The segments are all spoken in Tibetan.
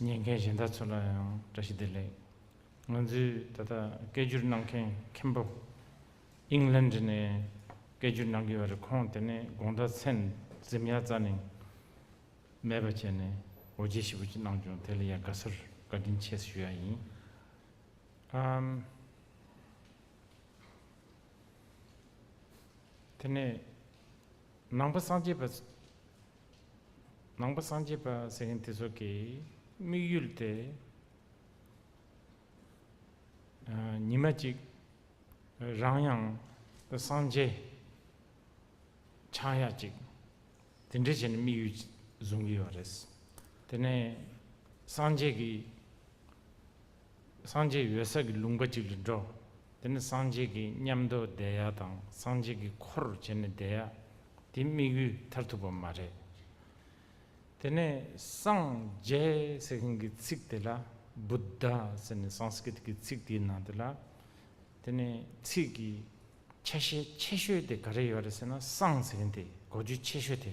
ཉན་མཁན་གཞན་དག་ཚོ་ལ་ཡང་བཀྲ་ཤིས་བདེ་ལེགས། ང་ཚོའི་ད་ལྟ་སྐད་བསྒྱུར་གནང་མཁན་མཁན་པོ། England ནས་སྐད་བསྒྱུར་གནང་གི་བ་རེད་ཁོང་དེ་ནས་དགོངས་དག་ཚན་གཟིམ་ཡག་རྩ་ནས་མེད་པ་བྱས་ནས་འོ་བརྗེ་ཞིབ་པོ་ཅིག་གནང་བྱུང་དེ་ལ་ཡང་དགའ་བསུར་བཀའ་དྲིན་ཆེ་ཞུ་ཡག་ཡིན། དེ་ནས་ནང་པ་སངས་རྒྱས་པ། ནང་པ་སངས་རྒྱས་པ་ཟེར་མཁན་དེ་ཚོ་གི་དམིགས་ཡུལ་དེ། ཉི་མ་གཅིག་རང་ཡང་སངས་རྒྱས་ཆགས་ཡ་གཅིག་དེ་འདྲས་བྱེད་ནས་དམིགས་ཡུལ་བཟུང་གི་ཡོད་རེད། དེ་ནས་སངས་རྒྱས་ཀྱི། སངས་རྒྱས་ཡོད་ས་ཀྱི་ལུང་པ་གཅིག་ལ་འགྲོ། དེ་ནི་སངས་རྒྱས་ཀྱི་ཉམས་རྟོགས་བསྡད་ཡག་དང་སངས་རྒྱས་ཀྱི་འཁོར་བར་བྱས་ནས་བསྡད་ཡག་དེའི་དམིགས་ཡུལ་མཐར་ཐུག་པ་མ་རེད། དེ་ནས་སངས་རྒྱས་ཟེར་མཁན་གྱི་ཚིག་དེ་ལ Buddha ཟེར་ནས Sanskrit གྱི་ཚིག་དེའི་ནང་དེ་ལ་དེ་ནས་ཚིག་གི་ཆ་ཤས་ཆེ་ཤོས་དེ་ག་རེ་ཡོད་རེད་ཟེར་ན་སངས་ཟེར་མཁན་དེ་གོ་རྒྱུ་ཆེ་ཤོས་དེ་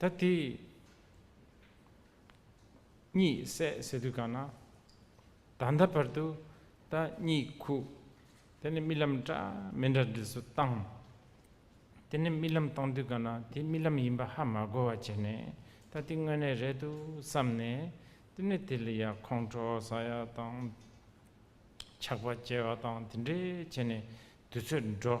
ད་དེ་གཉིས་བསྲེ་བསྲེ་དུས་གང་ན། ད་ལྟ་བར་དུ་ད་གཉིས་ཁུག། དེ་ནས་རྨི་ལམ་འདྲ་མི་འདྲ་འདི་ཚོ་བཏང། དེ་ནས་རྨི་ལམ་བཏང་དུས་གང་ན་དེ་རྨི་ལམ་ཡིན་པ་ཧ་མ་གོ་བ་བྱས་ནས་ད་དེ་དངོས་གནས་རེད་འདུག་བསམ་ནས། དེ་ནས་དེ་ལ་ཡང་ཁོང་ཁྲོ་ཟ་ཡ་དང། ཆགས་པ་སྐྱེ་བ་དང་དེ་འདྲས་བྱས་ནས་དུས་ཚོད་འགྲོ།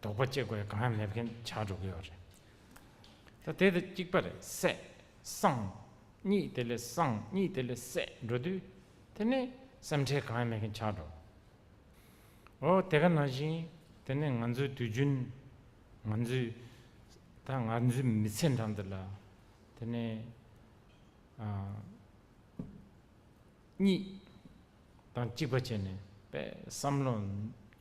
དོགས་པ་སྐྱེ་དགོས་གང་ཡང་མེད་མཁན་བྱ་འགྲོ་གི་ཡོད་རེད། ད་དེ་དང་གཅིག་པ་རེད་སད། སང། གཉིས་དེ་ལས་སང་གཉིས་དེ་ལས་སད་འགྲོ་དུས། དེ་ནི་སེམས་ཁྲལ་གང་ཡང་མེད་མཁན་བྱ་འགྲོ། འོ་དེ་ག་ན་བཞིན་དེ་ནི་ང་ཚོའི་དུས་རྒྱུན། ང་ཚོའི། ད་ང་ཚོའི་མི་ཚེ་འདྲ་འདི་ལ། དེ་ནི། གཉིས་དང་གཅིག་པ་བྱས་ནས་པས་བསམ་བློ་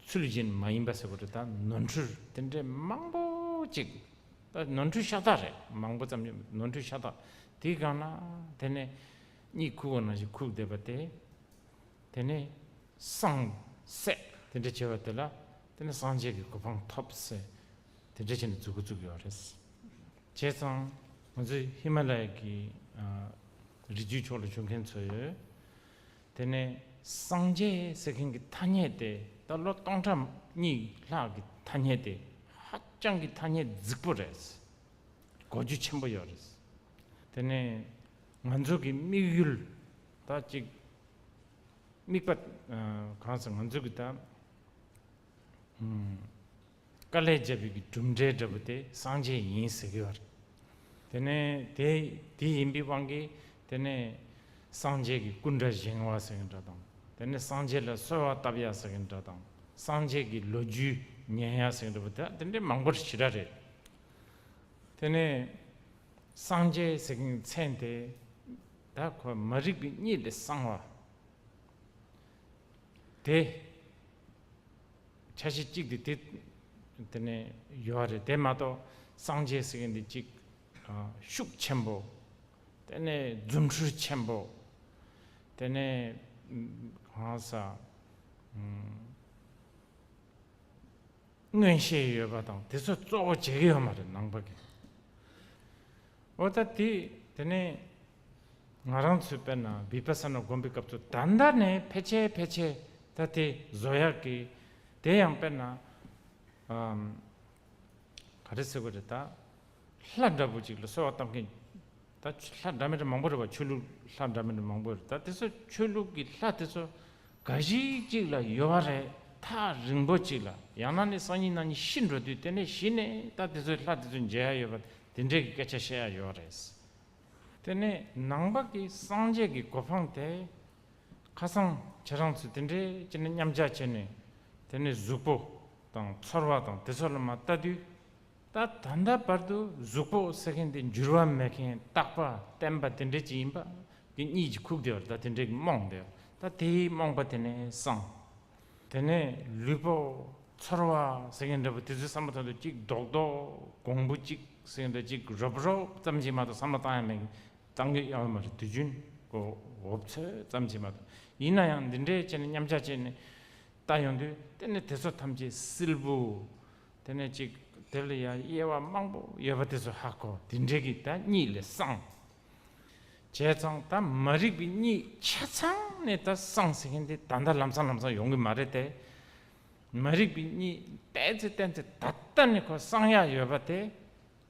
ཚུལ་བཞིན་མ་ཡིན་པ་ཟེར་བ་རེད་ད་ནོར་འཁྲུལ་དེ་འདྲས་མང་པོ་ཅིག་ད་ནོར་འཁྲུལ་ཤ་སྟག་རེད་མང་པོ་ཙམ་ནོར་འཁྲུལ་ཤ་སྟག་དེའི་སྒང་ལ་དེ་ནས་གཉིད་ཁུག་པ་ན་ཞིག་ཁུག་བསྡད་པ་དེ་དེ་ནས་སངས་སྲས་དེ་འདྲས་བྱས་པ་དེ་ལ་དེ་ནས་སངས་རྒྱས་ཀྱི་གོ་འཕང་ཐོབ་ཟེར་དེ་འདྲས་བྱས་ནས་རྫུ་གུ་བཙུགས་ཡོད་རེད། བྱས་ཙང་ང་ཚོ་ཧི་མ་ལ་ཡ་གི་རི་རྒྱུད་ཕྱོགས་ལ་བྱོན་མཁན་ཚོ་ཡོད། དེ་ནས་སངས་རྒྱས་ཟེར་མཁན་གྱི་ཐ་སྙད་དེ་ད་ལོ་སྟོང་ཕྲག་གཉིས་ལྷག་གི་ཐ་སྙད་དེ་ཧ་ཅང་གི་ཐ་སྙད་རྫིག་པོ་རེད། གོ་རྒྱུ་ཆེན་པོ་ཡོད་རེད། དེ་ནས་ང་ཚོ་གི་དམིགས་ཡུལ་ད་ཅིག་དམིགས་པ་གང་ཟེར་ང་ཚོ་གི་ད། དཀའ་ལས་བརྒྱབ་པའི་གྲུབ་འབྲས་འདྲ་བོ་དེ་སངས་རྒྱས་ཡིན་ཟེར་གི་བར། དེ་ནས་དེ་དེ་ཡིན་པའི་དབང་གིས་དེ་ནས་སངས་རྒྱས་ཀྱི་སྐུ་འདྲ་བཞེངས་བ་ཟེར་གི་འདྲ་དང། དེ་ནས་སངས་རྒྱས་ལ་གསོལ་བ་བཏབ་ཡ་ཟེར་གི་འདྲ་དང། སངས་རྒྱས་ཀྱི་ལོ་རྒྱུས་ཉན་ཡ་ཟེར་གི་འདྲ་བོ་དེ་དེ་འདྲའི་མང་པོར་ཞི་ར་རེད། དེ་ནས་སངས་རྒྱས་ཟེར་གི་མཚན་དེ་ད་ཁོ་མ་རིག་པའི་གཉིད་ལས་སངས་བ་དེ། ཆ་ཤས་གཅིག་དེ་དེ་དེ་ནས་ཡོད་པ་རེད་དེ་མ་གཏོགས་སངས་རྒྱས་ཟེར་མཁན་དེ་གཅིག་ཤུགས་ཆེན་པོ། དེ་ནས་རྫུ་འཕྲུལ་ཆེན་པོ། དེ་ནས་གང་ཟག་མངོན་ཤེས་ཡོད་པ་དང་དེ་ཚོ་གཙོ་བོ་བྱེད་ཀྱི་ཡོད་མ་རེད་ནང་པ་གིས། འོ་ད་དེ་དེ་ནས་ང་རང་ཚོས་དཔེར་ན་བི་པ་ས་ན་བསྒོམ་པའི་སྐབས་སུ་ད་ལྟ་ནས་ཕལ་ཆེ་ཕལ་ཆེ་ད་དེ་བཟོ་ཡག་གི། དེ་ཡང་དཔེར་ན། ག་རེ་ཟེར་བ་རེད་ད། ལྷ་འདྲ་བོ་ཅིག་ལ་གསོལ་བ་བཏབ་མཁན། ད་ལྷ་འདྲ་མི་འདྲ་མང་པོ་རེད་བ་ཆོས་ལུགས་ལྷ་འདྲ་མི་འདྲ་མང་པོ་རེད་ད་དེ་ཚོ་ཆོས་ལུགས་ཀྱི་ལྷ་དེ་ཚོ་འགའ་ཞིག་ཅིག་ལ་ཡོད་བ་རེད་ཐག་རིང་པོ་ཅིག་ལ་ཡང་ན་ནས་སང་ཉིན་ན་ཉིན་ཤི་འགྲོ་དུས་དེ་ནས་གཞི་ནས་ད་དེ་ཚོའི་ལྷ་དེ་ཚོ་མཇལ་ཡག་ཡོད་བ་དེ་འདྲའི་གི་སྐད་ཆ་བཤད་ཡག་ཡོད་རེད། དེ་ནས་ནང་པ་ཀི་སངས་རྒྱས་ཀི་གོ་འཕང་དེ། ཁ་སང་ཁྱེད་རང་ཚོས་དེ་འདྲའི་ཅི་ནས་མཉམ་བཞག་བྱས་ནས། དེ་ནས་གཟུགས་པོ་དང་ཚོར་བ་དང་དེ་ཚོ་ལ་མ་བལྟ་དུས། ད་ད་ལྟ་བར་དུ་གཟུགས་པོ་ཟེར་མཁན་དེ་འགྱུར་བ་མེད་མཁན་རྟག་པ་བརྟན་པ་དེ་འདྲའི་ཅི་ཡིན་པ་ཀི་གཉིད་ཀྱི་ཁུག་དེ་བར་ད་དེ་འདྲའི་ཀི་རྨོངས་དེ་བར་ད་དེའི་རྨོངས་པ་དེ་ནས་སངས། དེ་ནས་ལུས་པོ་ཚོར་བ་ཟེར་གྱི་འདྲ་བོ་དེ་ཚོའི་བསམ་བློ་དོན་དུ་གཅིག་རྡོག་རྡོག་གོང་བུ་གཅིག་ཟེར་གྱི་འདྲ་གཅིག་རོབ་རོབ་ཙམ་གྱིས་མ་གཏོགས་བསམ་བློ་བཏང་ཡང་མེད་གི་བཏང་གི་ཡང་མ་རེད་དུས་རྒྱུན་གོ་འོབ་ཚོད་ཙམ་གྱིས་མ་གཏོགས་ཡིན་ན་ཡང་འདི་འདྲའི་ཆེ་ནས་མཉམ་བྱ་བྱས་ནས་བལྟ་ཡོང་དུས་དེ་ནས་དེ་ཚོ་ཐམས་ཅད་སིལ་བུ་དེ་ནས་གཅིག་དེ་ལ་ཡང་དབྱེ་བ་མང་པོ་ཡོད་པ་དེ་ཚོ་ཧ་གོ་དེ་འདྲའི་གི་ད་གཉིད་ལས་སངས། བྱས་ཙང་ད་མ་རིག་པའི་གཉིད་ཆ་ཚང་ནས་ད་སངས་ཟིན་མཁན་དེ་ད་ལྟ་ལམ་སང་ལམ་སང་ཡོང་གི་མ་རེད་དེ། མ་རིག་པའི་གཉིད་བལྟས་ཚེ་བལྟས་ཚེ་ད་ལྟ་ནས་ཁོ་སངས་ཡག་ཡོད་པ་དེ་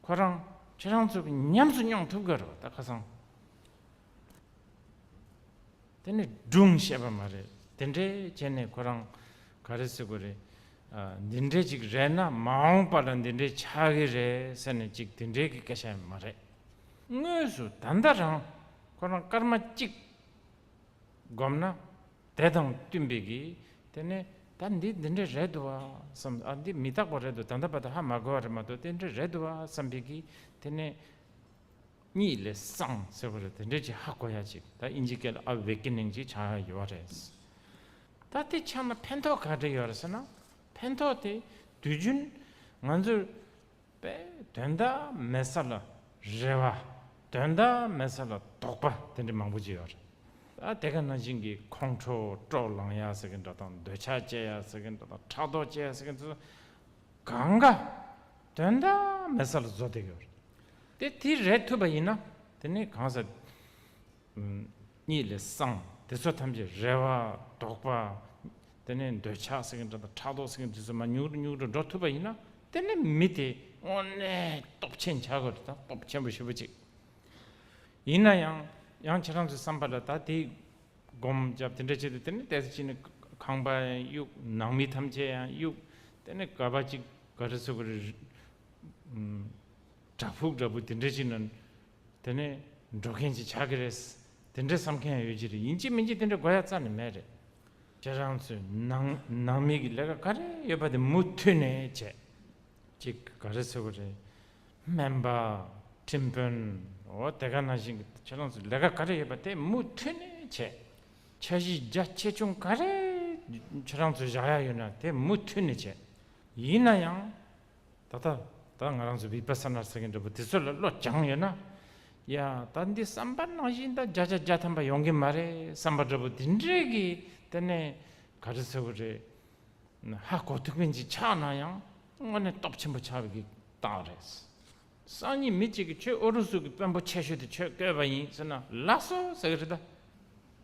ཁོ་རང་ཁྱེད་རང་ཚོ་གིས་ཉམས་སུ་མྱོང་ཐུབ་གི་རེད་ད་ཁ་སང་དེ་ནས་སྒྲུང་ཤེས་པ་མ་རེད་དེ་འདྲས་བྱས་ནས་ཁོ་རང་ག་རེ་ཟེར་དགོས་རེད། འདི་འདྲས་ཅིག་རེད་ན་མ་འོངས་པ་ལ་འདི་འདྲས་ཆགས་གི་རེད་ཟེར་ནས་ཅིག་དེ་འདྲས་ཀྱི་སྐད་ཆ་ཡང་མ་རེད། དངོས་སུ་ད་ལྟ་རང་ཁོ་རང་སྐར་མ་གཅིག་བསྒོམས་ན་དེ་དང་བསྟུན་པའི་གིས་དེ་ནས་ད་འདི་འདི་འདྲ་རེད་འདུག་བསམ་ཨ་འདི་མི་རྟག་པ་རེད་འདུག་ད་ལྟ་བར་དུ་ཧ་མ་གོ་བ་རེད་མ་གཏོགས་དེ་འདྲ་རེད་འདུག་བསམ་པའི་གིས་དེ་ནས་གཉིད་ལས་སངས་ཟེར་བ་རེད་དེ་འདྲའི་གྱིས་ཧ་གོ་ཡ་གཅིག་ད་ཨིན་ཇི་སྐད་ལ་ཨ་ཝེ་ཀི་ནིང་གཅིག་ཆགས་ཡ་ཡོད་བ་རེད། ད་དེ་ཆགས་ན་ཕན་ཐོགས་ག་རེ་ཡོད་རེད་ཟེར་ན་ཕན་ཐོགས་དེ་དུས་རྒྱུན་ང་ཚོ་པས་དོན་དག་མེད་ས་ལ་རེ་བ། དོན་དག་མེད་ས་ལ་དོགས་པ་དེ་འདྲ་མང་པོ་བྱེད་ཡོད་རེད། ཨ་དེ་ག་ན་བྱིངས་ཀྱི་ཁོང་ཁྲོ་དཀྲོག་ལངས་ཡག་ཟེར་མཁན་འདྲ་དང་འདོད་ཆགས་སྤྱད་ཡག་ཟེར་མཁན་འདྲ་དང་ཕྲག་དོག་སྤྱད་ཡག་ཟེར་མཁན་ཚོ་གང་ག་དོན་དག་མེད་ས་ལ་བཟོ་བསྡད་ཡོད་རེད། དེ་དེ་རེད་ཐུབ་པ་ཡིན་ན་དེ་ནས་གང་ཟེར། གཉིད་ལས་སངས། དེ་ཚོ་ཐམས་ཅད་རེ་བ། དོགས་པ། དེ་ནས་འདོད་ཆགས་སེང་གེ་འདྲ་དང་ཕྲག་དོག་སེང་གེ་འདི་ཚོ་མ་མྱུག་རུ་མྱུག་རུ་འགྲོ་ཐུབ་པ་ཡིན་ན་དེ་ནི་མི་དེ་དངོས་གནས་སྟོབས་ཆེན་བྱ་དགོས་རེད་ད་སྟོབས་ཆེན་པོ་ཞེ་པོ་ཅིག་ཡིན་ན་ཡང་ཡང་ཁྱེད་རང་ཚོའི་བསམ་པ་ལ་ད་དེ་སྒོམ་རྒྱབ་དེ་འདྲ་བྱེད་དུ་དེ་ནི་དེ་ཅི་ནི་ཁང་པ་ཡང་གཡུག་ནང་མི་ཐམས་ཅད་ཡང་གཡུག་དེ་ནི་ག་པ་ཅིག་ག་རེ་ཟོ་ག་རེ་རེད། བྲག་ཕུག་འདྲ་པོ་དེ་འདྲ་ཅིག་ན་དེ་ནས་འགྲོ་མཁན་གྱིས་བྱ་གི་རེད། དེ་འདྲའི་བསམ་མཁན་ཡོད་ཀྱི་རེད་ཡིན་གྱི་མིན་གྱི་དེ་འདྲའི་དགོས་ཡ་རྩ་ནས་མེད་རེད། ཁྱེད་རང་ཚོས་ནང་ནང་མི་གི་ལས་ཀ་ག་རེ་ཡོད་པ་དེ་མུ་མཐུད་ནས་བྱེད་ཅིག་ག་རེ་ཟེར་གི་རེད། སྨན་པ། ཁྲིམས་དཔོན། འོ་དེ་ག་ན་བཞིན་གི་ཁྱེད་རང་ཚོས་ལས་ཀ་ག་རེ་ཡོད་པ་དེ་མུ་མཐུད་ནས་བྱེད། འཆར་གཞི་རྒྱ་ཆེ་ཆུང་ག་རེ་ཁྱེད་རང་ཚོས་བཞག་ཡ་ཡོད་ན་དེ་མུ་མཐུད་ནས་བྱེད། ཡིན་ན་ཡང། ད་ལྟ་ད་ང་རང་ཚོ་བིས་པ་སཱ་ནཱ་ཟེར་མཁན་འདྲ་པོ་དེ་ཚོ་ལ་བློ་སྦྱངས་ཡོད་ན། ཡ་ད་འདི་བསམ་པ་ནང་བཞིན་ད་བརྒྱ་ཆ་བརྒྱ་ཐམ་པ་ཡོང་གི་མ་རེད་བསམ་པ་འདྲ་པོ་དེ་འདྲས་ཀྱི་དེ་ནས་ག་རེ་ཟེར་བ་རེད། ཧ་གོ་ཐུག་མིན་ཅིག་ཆགས་ན་ཡང་དངོས་གནས་སྟོབས་ཆེན་པོ་ཆགས་པའི་རྟགས་རེད། སང་ཉིན་མི་གཅིག་གིས་ཁྱོད་ཨུ་རུ་སུ་གི་དཔོན་པོ་ཆེ་ཤོས་དེ་ཁྱོད་བསྐོས་པ་ཡིན་ཟེར་ན་ལགས་སོ་ཟེར་གི་རེད་ད།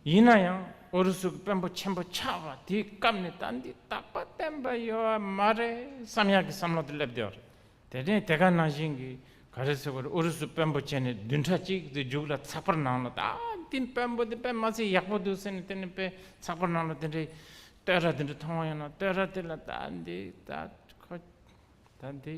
ཡིན་ན་ཡང་ཨུ་རུ་སུ་གི་དཔོན་པོ་ཆེན་པོ་ཆགས་པ་དེའི་སྐབས་ནས་ད་འདི་དག་པ་བསྟན་པ་ཡོད་བ་མ་རེད་བསམ་ཡག་གི་བསམ་བློ་དེ་སླེབས་བསྡད་པ་རེད། དེ་ནས་དེ་ག་ནང་བཞིན་གི་ག་རེ་ཟེར་བ་རེད་ཨུ་རུ་སུ་དཔོན་པོ་ཆེ་ནས་བདུན་ཕྲག་གཅིག་དེ་རྒྱུགས་ལ་ཚགས་པར་ནང་ལ་ད་འདི་དཔོན་པོ་དེ་དཔེ་མ་ཚད་ཡག་པོ་འདུག་ཟེར་ནས་དེ་ནས་དཔེ་ཚགས་པར་ནང་ལ་དེ་འདྲའི་བསྟོད་ར་དེ་འདྲ་མཐོང་བ་ཡོད་ན་བསྟོད་ར་དེ་ལ་ད་འདི་ད་ཁོ་ད་འདི།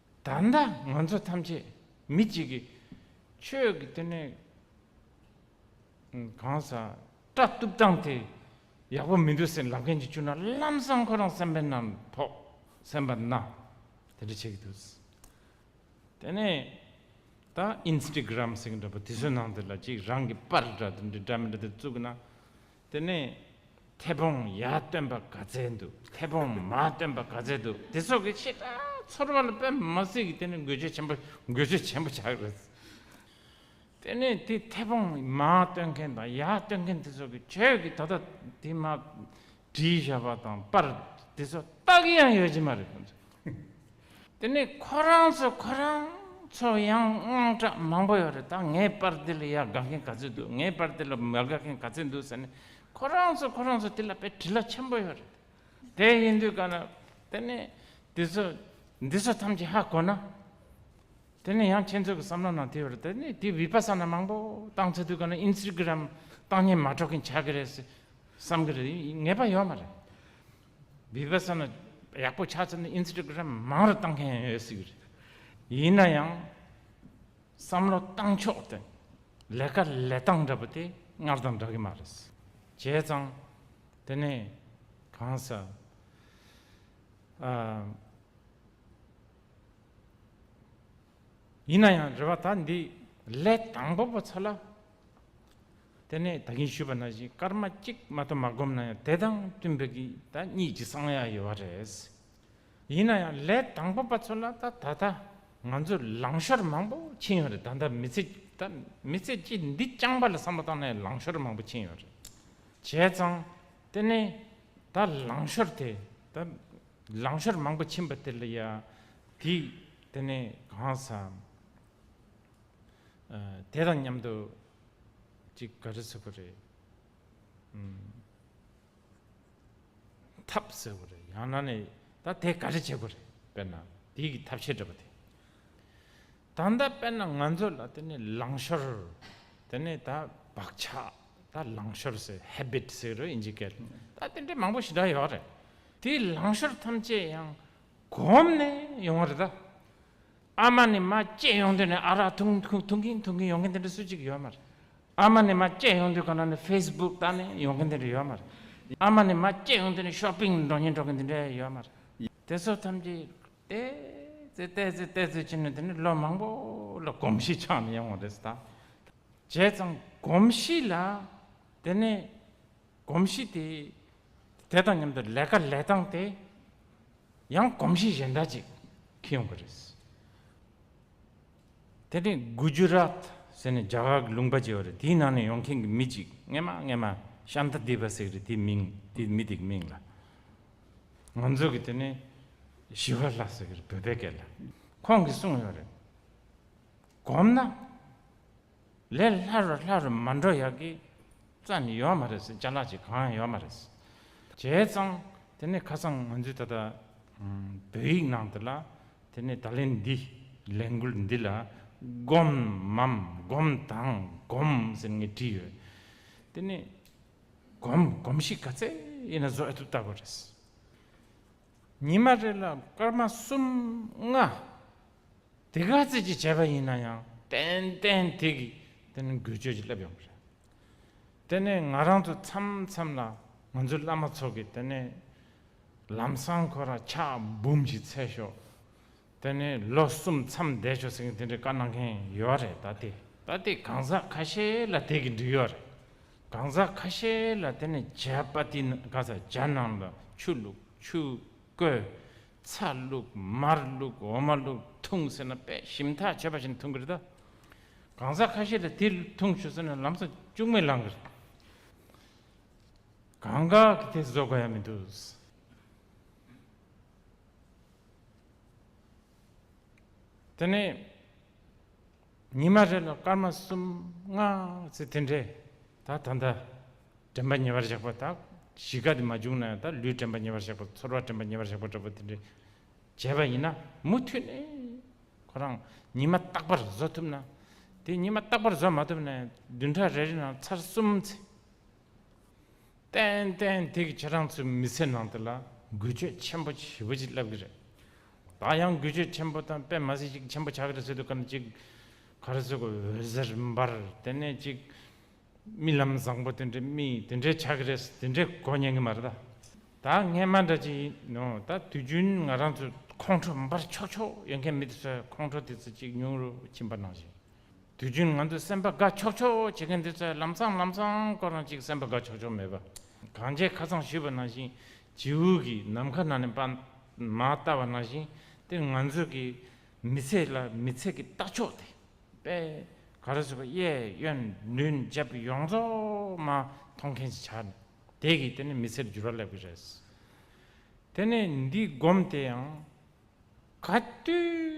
ད་ལྟ་ང་ཚོ་ཐམས་ཅད་མི་གཅིག་གིས་ཆོས་ཀྱི་སྟེང་ནས་གང་ཟག་སྐྲ་གཏུབ་སྟངས་དེ་ཡག་པོ་མི་འདུག་སེམས་ལབ་མཁན་གཅིག་བྱུང་ན་ལམ་བཟང་ཁོ་རང་སེམས་པའི་ནང་ཐོག་སེམས་པ་ན་དེ་འདྲ་བྱེད་ཀྱི་འདུག་དེ་ནས་ད་ཨིན་སྟི་གི་རམ་ཟེར་གྱི་འདྲ་པོ་དེ་ཚོའི་ནང་དེ་ལ་གཅིག་རང་གི་པར་འདྲ་དེ་འདྲ་འདྲ་མི་འདྲ་དེ་བཙུགས་ན་དེ་ནས་མཐེ་བོང་ཡ་སྟོན་པ་ག་ཚད་འདུག་མཐེ་བོང་མ་སྟོན་པ་ག་ཚད་འདུག་དེ་སོགས་ཀྱི་ཆེད་དུ་ཚོར་བ་ལ་པད་མ་སྲིད་ཀྱི་དེ་ནས་འགུལ་སྤྱོད་ཆེན་པོ་འགུལ་སྤྱོད་ཆེན་པོ་ཆགས་རེད། དེ་ནས་དེ་མཐེ་བོང་མ་སྟོན་མཁན་དང་ཡ་སྟོན་མཁན་དེ་སོགས་ཀྱི་ཁྱོད་ཀྱིས་ད་ལྟ་དེ་མ་བྲིས་བཞག་པ་དང་པར་དེ་སོགས་རྟགས་ཡང་ཡོད་ཀྱི་མ་རེད། དེ་ནས་ཁོ་རང་ཚོ་ཁོ་རང་ཚོ་ཡང་དངངས་སྐྲག་མང་པོ་ཡོད་རེད་ད་ངའི་པར་དེ་ལ་ཡ་དགའ་མཁན་ག་ཚོད་འདུག་ངའི་པར་དེ་ལ་མ་དགའ་མཁན་ག་ཚོད་འདུག་ཟེར་ནས་ཁོ་རང་ཚོ་ཁོ་རང་ཚོ་དེ་ལ་པའི་དྲི་ལ་ཆེན་པོ་ཡོད་རེད། དེ་ཡིན་དུས་ག་ན་དེ་ནས་དེ་ཚོ་འདི་ཚོ་ཐམས་ཅད་ཧ་གོ་ན་དེ་ནས་ཡང་ཁྱེད་ཚོ་གི་བསམ་བློ་ནང་དེ་ཡོད་རེད་དེ་ནས་དེ་བི་པ་ས་ན་མང་པོ་བཏང་ཚར་དུས་ག་ན Instagram བཏང་སྙན་མ་གྲོགས་མཁན་ཆགས་ཀྱི་རེད་ཟེར་བསམ་གྱི་རེད་ངེས་པ་ཡོད་མ་རེད། བི་བྷ་སཱ་ན་ཡག་པོ་ཆགས་ཚར་ནས Instagram མང་རུ་གཏང་མཁན་ཡོད་སྲིད་གི་རེད། ཡིན་ན་ཡང་བསམ་བློ་གཏང་ཕྱོགས་དེ་ལས་ཀ་ལས་སྟངས་འདྲ་པོ་དེ་སྔར་དང་འདྲ་གི་མ་རེད། བྱས་ཙང་དེ་ནས་གང་ཟེར་ཨ། ཡིན་ན་ཡང་རེ་བ་ད་འདི་ལས་དང་པོ་པོ་ཚོ་ལ་དེ་ནས་ད་གིན་ཞུས་པ་ན་བཞིན་སྐར་མ་གཅིག་མ་གཏོགས་མ་བསྒོམས་ན་ཡང་དེ་དང་བསྟུན་པའི་གི་ད་གཉིད་ཀྱི་གསང་ཡ་ཡོད་པ་རེད། ཡིན་ན་ཡང་ལས་དང་པོ་པ་ཚོ་ལ་ད་ད་ད་ང་ཚོས་ལང་ཤོར་མང་པོ་ཕྱིན་ཡོད་རེད་ད་ད་མི་ཚེ་ད་མི་ཚེ་གཅིག་འདི་རྐྱང་པ་ལ་བསམ་བློ་བཏང་ནས་ལང་ཤོར་མང་པོ་ཕྱིན་ཡོད་རེད་བྱས་ཙང་དེ་ནས་ད་ལང་ཤོར་དེ་ད་ལང་ཤོར་མང་པོ་ཕྱིན་པ་དེ་ལ་ཡ་དེ་དེ་ནས་གང་ཟག་དེ་དང་མཉམ་དུ་ཅིག་ག་རེ་ཟེར་བ་རེད། ཐབས་ཟེར་བ་རེད་ཡང་ན་ནས་ད་དེ་ག་རེ་བྱེད་དགོས་རེད་དཔེར་ན་དེ་གི་ཐབས་ཤེས་འདྲ་པོ་དེ། ད་ལྟ་དཔེར་ན་ང་ཚོ་ལ་དེ་ནས་ལངས་ཤོར་དེ་ནས་ད་བག་ཆགས་ད་ལངས་ཤོར་ཟེར Habit ཟེར་རོ་ཨིན་ཇི་སྐད་ད་དེ་འདྲ་མང་པོ་ཞིག་འདྲ་ཡོད་རེད་དེའི་ལངས་ཤོར་ཐམས་ཅད་ཡང་གོམས་ནས་ཡོང་བ་རེད་ད། ཨ་མ་ནི་མ་སྐྱེས་ཡོང་དུས་ནས་ཨ་རག་འཐུང་འཐུང་གིན་འཐུང་གིན་ཡོང་གིན་དེ་འདྲ་སུ་གཅིག་ཡོད་མ་རེད། ཨ་མ་ནི་མ་སྐྱེས་ཡོང་དུས་གང་ན་ནས Facebook ལྟ་ནས་ཡོང་གིན་དེ་འདྲ་ཡོད་མ་རེད། ཨ་མ་ནི་མ་སྐྱེས་ཡོང་དུས་ནས Shopping འགྲོ་གིན་འགྲོ་གིན་དེ་འདྲ་ཡོད་མ་རེད། དེ་ཚོ་ཐམས་ཅད་བལྟས་ཚེ་བལྟས་ཚེ་བལྟས་ཚེ་བྱས་ནས་དེ་ནས་ལོ་མང་པོ་ལ་གོམས་གཤིས་ཆགས་ནས་ཡོང་བ་རེད་ད། བྱས་ཙང་གོམས་གཤིས་ལ་དེ་ནས་གོམས་གཤིས་དེ་དེ་དང་མཉམ་དུ་ལས་ཀ་ལས་སྟངས་དེ་ཡང་གོམས་གཤིས་གཞན་འདྲ་ཅིག་འཁེལ་ཡོང་གི་རེད། དེ་ནས་གུ་ཇུ་རཱཏ་ཟེར་ནས་རྒྱ་གར་གྱི་ལུང་པ་ཅིག་རེད་དེའི་ནང་ནས་ཡོང་མཁན་གྱི་མི་ཅིག་རྔན་མ་རྔན་མ་ཤཱན་ཏཱ་དེ་བ་ཟེར་གི་རེད་དེའི་མིང་དེའི་མི་དེ་གི་མིང་ལ་ང་ཚོ་གི་དེ་ནས་ཞི་བ་ལཱ་ཟེར་གི་རེད་བོད་པའི་སྐད་ལ་ཁོང་གིས་གསུངས་ཡོད་རེད་གོམས་ན། ལས་སླ་རུ་སླ་རུ་མ་འགྲོ་ཡག་གི་རྩ་ནི་ཡོད་མ་རེད་བྱ་གླག་ཅིག་གང་ཡང་ཡོད་མ་རེད། བྱས་ཙང་དེ་ནས་ཁ་སང་ང་ཚོས་ད་ལྟ་བོད་ཡིག་ནང་དུ་ལ་དེ་ནས་ད་ལན་འདི་ལས་འགུལ་འདི་ལ་སྒོམ་མམ་སྒོམ་དང་སྒོམ་ཟེར་ངེས་བྲིས་ཡོད། དེ་ནས་སྒོམ་སྒོམ་ཞིག་ག་ཚད་ཡིན་ན་བཟོ་ཨེ་ཐུབ་ལྟ་བུ་རེད། ཉི་མ་རེ་ལ་སྐར་མ་གསུམ་ལྔ། དེ་ག་ཚད་ཅིག་བྱས་པ་ཡིན་ན་ཡང་ཏན་ཏན་དེ་གིས་དེ་ནི་འགུལ་སྐྱོད་ཀྱིས་བསླེབས་ཡོང་པ་རེད། དེ་ནས་ང་རང་ཚོ་མཚམས་མཚམས་ལ་ང་ཚོའི་བླ་མ་ཚོ་གིས་དེ་ནས་ལམ་སང་ཁོ་རང་ཕྱག་འབུམ་ཞིག་འཚལ་ཤོག་དེ་ནི་ལོ་གསུམ་མཚམས་བསྡད་ཆོག་ཟེར་མཁན་དེ་འདྲའི་བཀའ་གནང་མཁན་ཡོད་རེད་ད་ལྟའི་ད་ལྟའི་གང་ཟག་ཁ་ཤས་ལ་དེ་གི་འགྲིག་ཡོད་རེད་གང་ཟག་ཁ་ཤས་ལ་དེ་ནི་བྱ་དཔའ་ཏི་གང་ཟག་བྱ་ནང་ལ་ཆུ་བླུགས་ཆུ་བསྐོལ་ཚ་བླུགས་མར་བླུགས་འོ་མ་བླུགས་འཐུང་ཟེར་ན་དཔེ་ཞིམ་ཐག་ཆོད་པ་བཞིན་འཐུང་གི་རེད་ད་གང་ཟག་ཁ་ཤས་ལ་དེ་འཐུང་ཆོག་ཟེར་ན་ལམ་སང་ལྕུག་མས་ལངས་གི་རེད་གང་གཱ་གི་དེ་བཟོ་དགོས་ཡ་མི་འདུག། དེ་ནས་ཉི་མ་རེ་ལ་སྐར་མ་གསུམ་ལྔ་ཚེ་དེ་འདྲས་དག་ད་ལྟ་དྲན་པ་ཉེ་བར་བཞག་པ་དག་གཞིས་ཀ་དེ་མ་བྱུང་ན་ཡང་དག་ལུས་དྲན་པ་ཉེ་བར་བཞག་པ་ཚོར་བ་དྲན་པ་ཉེ་བར་བཞག་པ་འདྲ་པོ་དེ་འདྲས་བྱས་པ་ཡིན་ན་མུ་མཐུད་ནས་ཁོ་རང་ཉི་མ་རྟག་པར་བཟོ་ཐུབ་ན་དེ་ཉི་མ་རྟག་པར་བཟོ་མ་ཐུབ་ན་ཡང་བདུན་ཕྲག་རེ་རེ་ནང་ཚར་གསུམ་ཚེ། ཏན་ཏན་ཐིག་ཁྱེད་རང་ཚོའི་མི་ཚེ་ནང་དེ་ལ་འགུལ་སྐྱོད་ཆེན་པོ་བྱེད་པོ་ཅིག་བསླབ་གི་རེད། ད་ཡང་འགུལ་སྐྱོད་ཆེན་པོ་དང་པད་མ་སྲིད་ཅིག་ཆེན་པོ་ཆགས་གི་རེད་ཟེར་དུས་ག་ནས་ཅིག་ག་རེ་ཟེར་གི་འོད་ཟེར་འབར་དེ་ནས་ཅིག་རྨི་ལམ་བཟང་པོ་དེ་འདྲའི་རྨི་དེ་འདྲའི་ཆགས་གི་རེད་དེ་འདྲའི་གོ་ཉན་གི་མ་རེད་ད། ད་ངས་མ་འདྲ་ཅིག་ཡིན་ནོ་ད་དུས་རྒྱུན་ང་རང་ཚོའི་ཁོང་ཁྲོ་འབར་ཆོག་ཆོག་ཡོད་མཁན་མི་དེ་ཚོའི་ཁོང་ཁྲོ་དེ་ཚོ་ཅིག་ཉུང་རུ་ཕྱིན་པ་ནང་བཞིན། དུས་རྒྱུན་ང་ཚོས་སེམས་པ་དགའ་ཆོག་ཆོག་བྱེད་མཁན་དེ་ཚོས་ལམ་སང་ལམ་སང་སྐོར་རང་གཅིག་སེམས་པ་དགའ་ཆོག་ཆོག་མེད་པ། གངས་ཅན་ཁ་ཚང་བཞུད་པ་ནང་བཞིན་བྱེའུ་གིས་ནམ་མཁའ་ནང་ནས་པདྨ་བལྟ་བ་ནང་བཞིན་དེར་ང་ཚོས་ཀྱི་མི་ཚེ་ལ་མི་ཚེ་གི་ལྟ་ཕྱོགས་དེ་པས་ག་རེ་བཟོས་པ་གཡས་གཡོན་མདུན་རྒྱབ་ཡོངས་རྫོགས་མ་མཐོང་མཁན་ཞིག་ཆགས་ནས་དེ་གིས་དེ་ནི་མི་ཚེར་འགྱུར་བ་སླེབས་ཀྱི་རེད། དེ་ནས་འདི་སྒོམ་དེ་ཡང་ག་དུས།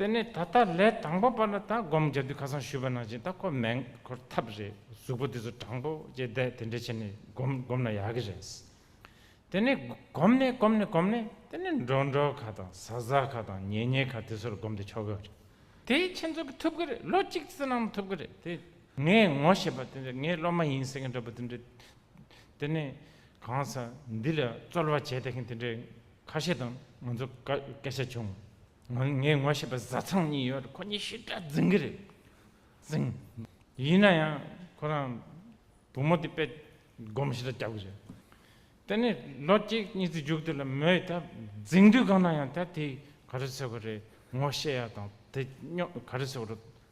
དེ་ནས་ད་ལྟ་ལས་དང་པོ་པ་ལ་ད་སྒོམ་རྒྱབ་དུས་ཁ་སང་ཞུས་པ་ནང་བཞིན་ད་ཁོ་མེད་འཁོར་ཐབས་རེད་གཟུགས་པོ་དེ་ཚོ་དྲང་པོ་བཅས་བསྡད་དེ་འདྲས་བྱས་ནས་སྒོམ་སྒོམ་ན་ཡག་གི་རེད། དེ་ནས་སྒོམ་ནས་སྒོམ་ནས་སྒོམ་ནས་དེ་ནས་འགྲོ་འགྲོ་ཁ་དང་ཟ་ཟ་ཁ་དང་ཉལ་ཉལ་ཁ་དེ་ཚོར་སྒོམ་དེ་ཆོག་གི་རེད། དེ་ཁྱེད་ཚོ་གི་ཐུབ་གི་རེད་ལོ་གཅིག་ཙི་ནང་ཐུབ་གི་རེད་དེ། ངས་ངོ་ཤེས་པ་དེ་འདྲས་ངས་སློབ་མ་ཡིན་ཟེར་མཁན་འདྲ་པོ་དེ་འདྲས་དེ་ནས་གང་ཟག་འདི་ལ་རྩོལ་བ་བྱས་བསྡད་མཁན་དེ་འདྲས་ཁ་ཤས་དང་ང་ཚོ་སྐད་ཆ་བྱུང། ངའི་ངོ་ཤེས་པ་བཟའ་ཚང་གཉིས་ཡོད་ཁོ་གཉིས་ཤི་དྲག་རྫིང་གི་རེད་རྫིང། ཡིན་ན་ཡང་ཁོ་རང་བུ་མོ་དེ་དཔེ་སྒོམ་ཞིག་ལ་རྒྱག་དགོས་བྱུང། དེ་ནས་ལོ་གཅིག་གཉིས་ཙི་འཇུག་དེ་ལ་མོས་ད་རྫིང་དུས་གང་ན་ཡང་ད་དེ་ག་རེ་ཟེར་བ་རེད་ངོ་ཤེས་ཡ་དང་དེ་སྙོག་ག་རེ་ཟེར་བ་རེད་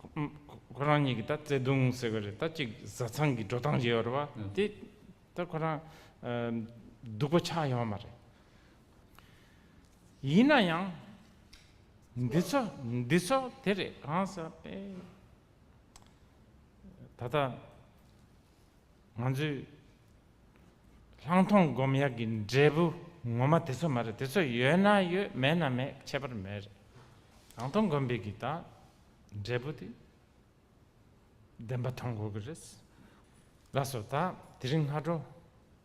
ཁོ་རང་གཉིས་ཀྱི་ད་བརྩེ་དུང་ཟེར་གི་རེད་ད་གཅིག་བཟའ་ཚང་གི་འགྲོ་སྟངས་བྱེད་ཡོད་རེད་བ་དེ་ད་ཁོ་རང་སྡུག་པ་ཆགས་ཡོང་བ་མ་རེད། ཡིན་ན་ཡང་འདི་ཚོ་འདི་ཚོ་དེ་རེད་གང་ཟེར་ན་དེ་ད་ད། ང་ཚོས་ལྷག་མཐོང་སྒོམ་དབྱར་གྱི་འབྲས་བུ་ངོ་མ་དེ་ཚོ་མ་རེད་དེ་ཚོ་ཡོད་ན་ཡོད་མེད་ན་མེད་ཁྱད་པར་མེད་རེད། ལྷག་མཐོང་སྒོམ་པའི་གི་དང་འབྲས་བུ་དེ་བདེན་པ་མཐོང་དགོས་གི་རེད། ལགས་སོ་ད་དེ་རིང་སྔ་དྲོ་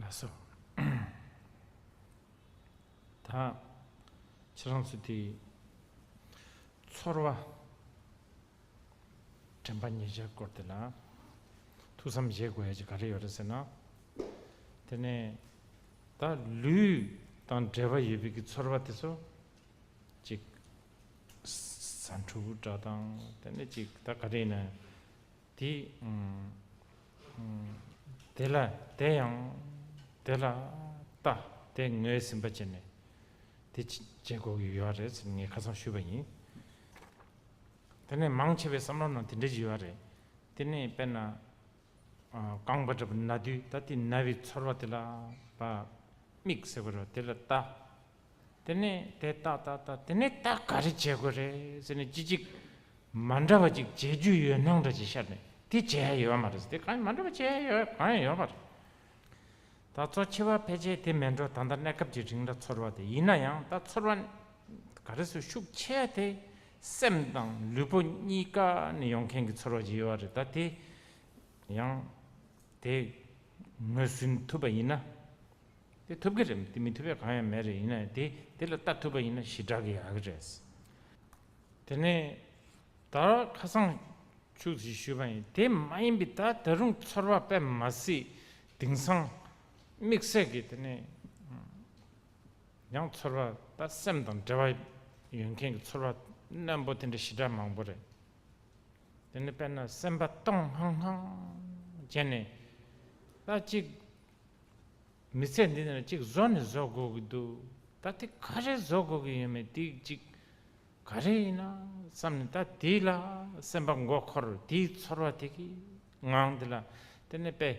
ལ་སོགས་དག། ཕྱི་རང་ཚུལ་དེ་ཡིས་ཚོར་བ། དྲན་པ་ཉེས་བྱས་སྐོར་དེ་ལ། ཐུགས་བསམ་བཞེས་དགོས་ཡ་གཅིག་ག་རེ་ཡོད་རེད་ཟེར་ན། དེ་ནས་ད་ལུས་དང་འབྲེལ་བ་ཡོད་པའི་གི་ཚོར་བ་དེ་ཚོ། གཅིག། ཟ་འཕྲུ་བུ་འདྲ་དང་དེ་ནས་གཅིག་ད་ག་རེ་ཡིན་ན། དེ་དེ་ལ་དེ་ཡང་དེ་ལ་ལྟ་དེ་ངོས་ཟིན་པ་བྱས་ནས་དེ་བྱེད་དགོས་ཀྱི་ཡོད་རེད་ཟེར་ངས་ཁ་སང་ཞུས་པ་ཡིན། དེ་ནས་མང་ཆེ་བའི་བསམ་བློ་ནང་དེ་འདྲ་ཞིག་ཡོད་རེད་དེ་ནས་དཔེར་ན་རྐང་པ་འདྲ་པོ་ན་དུས་ད་དེ་ན་བའི་ཚོར་བ་དེ་ལ་བ་དམིགས་ཟེར་བ་རེད་དེ་ལ་ལྟ་དེ་ནས་དེ་ལྟ་ལྟ་ལྟ་དེ་ནས་ད་ག་རེ་བྱེད་དགོས་རེད་ཟེར་ནས་ཅི་ཅིག་མ་འདྲ་བ་ཅིག་བྱེད་རྒྱུ་ཡོད་སྣང་འདྲ་ཅིག་ཤར་ནས་དེ་བྱེད་ཡ་ཡོད་མ་རེད་དེ་གང་ཡང་མ་འདྲ་བ་བྱེད་ཡ་ཡོད་གང་ཡང་ཡོད་མ་རེད། ད་ཚོ་འཆི་བ་ཕལ་ཆེར་དེ་མེད་འགྲོ་ད་ལྟ་གནས་སྐབས་ཀྱི་རིང་ལ་ཚོར་བ་དེ་ཡིན་ན་ཡང་ད་ཚོར་བ་ག་རེ་སུ་ཤུགས་ཆེ་ཡ་དེ་སེམས་དང་ལུས་པོ་གཉིས་ཀ་ནས་ཡོང་མཁན་གྱི་ཚོར་བ་ཅིག་ཡོད་བ་རེད་ད་དེ་ཡང་དེ་ངོས་ཟིན་ཐུབ་པ་ཡིན་ན། དེ་ཐུབ་ཀྱི་རེད་དེ་མི་ཐུབ་པའི་གང་ཡང་མེད་རེད་ཡིན་ན་དེ་དེ་ལ་ལྟ་ཐུབ་པ་ཡིན་ན་ཞི་དྲག་གི་ཡག་གི་རེད། དེ་ནས་ད་ཁ་སང་ཕྱུག་ཅིག་ཞུས་པ་ཡིན་དེ་མ་ཡིན་པའི་ད་ད་རུང་ཚོར་བ་དཔེ་མ་སྲིད་དིང་སང་དམིགས་བསལ་གྱི་དེ་ནས་ཡང་ཚོར་བ་ད་སེམས་དང་འབྲེལ་བ་ཡོད་མཁན་གྱི་ཚོར་བ་རྣོན་པོ་དེ་འདྲ་ཞི་དྲག་མང་པོ་རེད། དེ་ནས་དཔེར་ན་སེམས་པ་སྟོང་ལྷང་ལྷང་བྱས་ནས་ད་ཅིག་མི་ཚད་འདི་ནས་གཅིག་བཟོ་ནི་བཟོ་དགོས་ཀྱི་འདུག་ད་དེ་ག་རེ་བཟོ་དགོས་ཀྱི་ཡོད་མེད་དེ་གཅིག་ག་རེ་ཡིན་ན་བསམ་ནས་ད་དེ་ལ་སེམས་པ་མགོ་འཁོར་དེའི་ཚོར་བ་དེ་གི་ངང་དེ་ལ་དེ་ནས་དཔེ་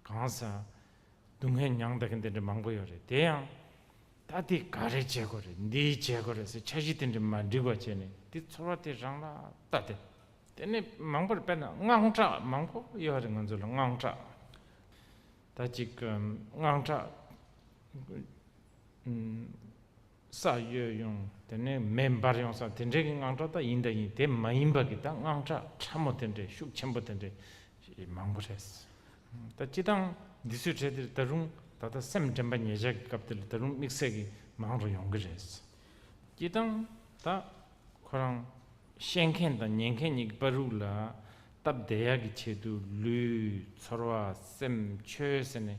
གང་ས་སྡུག་བསྔལ་མྱང་བདག་གི་འདི་འདྲ་མང་པོ་ཡོད་རེད་དེ་ཡང་ད་དེ་ག་རེ་བྱེད་དགོས་རེད་འདི་བྱེད་དགོས་རེད་ཟེར་འཆར་གཞི་དེ་འདྲ་མ་འགྲིག་པ་བྱས་ནས་དེ་ཚོར་བ་དེ་རང་ལ་ལྟ་དེ། དེ་ནི་མང་པོར་དཔེར་ན་དངངས་སྐྲག་མང་པོ་ཡོད་པ་རེད་ང་ཚོ་ལ་དངངས་སྐྲག་ད་ཅིག་དངངས་སྐྲག་ས་ཡོད་ཡོང་དེ་ནས་མེ་འབར་ཡོང་ས་དེ་འདྲའི་གི་དངངས་སྐྲག་ད་ཡིན་ད་ཡིན་དེ་མ་ཡིན་པ་གི་ད་དངངས་སྐྲག་ཕྲ་མོ་དེ་འདྲའི་ཤུགས་ཆེན་པོ་དེ་འདྲའི་མང་པོ་རེད། ད་སྤྱི་སྟངས་འདི་ཚོའི་གྲས་འདིར་ད་རུང་ད་ལྟ་སེམས་དྲན་པ་ཉེ་ཆར་གི་སྐབས་འདི་ལ་ད་རུང་དམིགས་བསལ་གི་མང་རུ་ཡོང་གི་རེད། སྤྱི་སྟངས་ད་ཁོ་རང་བཤད་མཁན་དང་ཉན་མཁན་གཉིས་ཀྱི་དཔའ་རུག་ལ་སྟབས་བདེ་ཡག་གི་ཆེད་དུ་ལུས་ཚོར་བ་སེམས་ཆོས་ཟེར་ནས་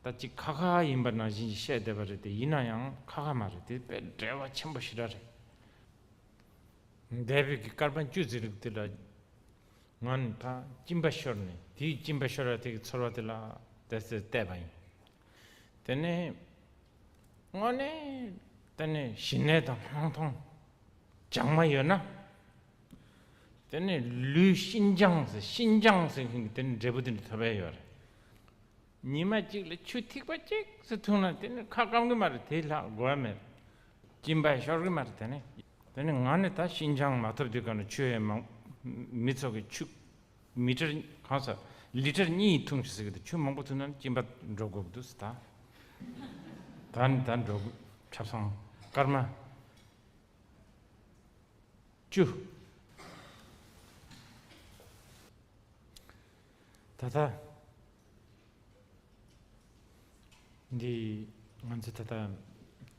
ད་ཅི་ཁ་ཁ་ཡིན་པ་ནང་བཞིན་གྱི་བཤད་བསྡད་པ་རེད་དེ་ཡིན་ན་ཡང་ཁ་ཁ་མ་རེད་དེ་དཔེ་བྲལ་བ་ཆེན་པོ་ཞིག་ར་རེད་འདས་བོད་ཀྱི་སྐར་མ་བཅུ་ཟེར་རིགས་དེ་ལ་ང་ནི་ད་གཅིན་པ་ཤོར་ནས་དེའི་གཅིན་པ་ཤོར་བ་དེ་གི་ཚོར་བ་དེ་ལ་དེ་ཟེར་བསྡད་པ་ཡིན། དེ་ནས་དངོས་གནས་དེ་ནས་ཞི་གནས་དང་སྣང་སྟོང་སྦྱང་མ་ཡོད་ན་དེ་ནས་ལུས་ཤིན་སྦྱངས་ཟེར་ཤིན་སྦྱངས་ཟེར་མཁན་གྱི་དེ་ནས་འབྲས་བུ་དེ་ནས་ཐོབ་ཨེ་ཡོད་རེད། ཉི་མ་གཅིག་ལ་ཆུ་ཐིགས་པ་གཅིག་སུ་འཐུང་ན་དེ་ནས་ཁ་སྐམ་གི་མ་རེད་དེ་ལྷག་དགོས་ཨེ་མེད། གཅིན་པ་ཤོར་གི་མ་རེད་དེ་ནས། དེ་ནས་ང་ནི་ད་ཤིན་སྦྱངས་མ་ཐོབ་དེ་ག་ནས་ཆུ་ཨེ་མང་མི་ཚོགས་ཀྱི་ཆུ། མི་ཁྲིར། གང་ཟག། ལི་ཁྲིར་གཉིས་ཡིན་ཐུང་ཞེས་ཟེར་གི་འདུག་ཆུ་མང་པོ་ཐོན་ན་གཅིན་པ་འགྲོ་དགོས་ཀྱི་འདུག་ཟེར། ད་ནི་ད་འགྲོ་དགོས། ཁྲབ་སང། སྐར་མ། བཅུ། ད་ལྟ། འདི། ང་ཚོས་ད་ལྟ།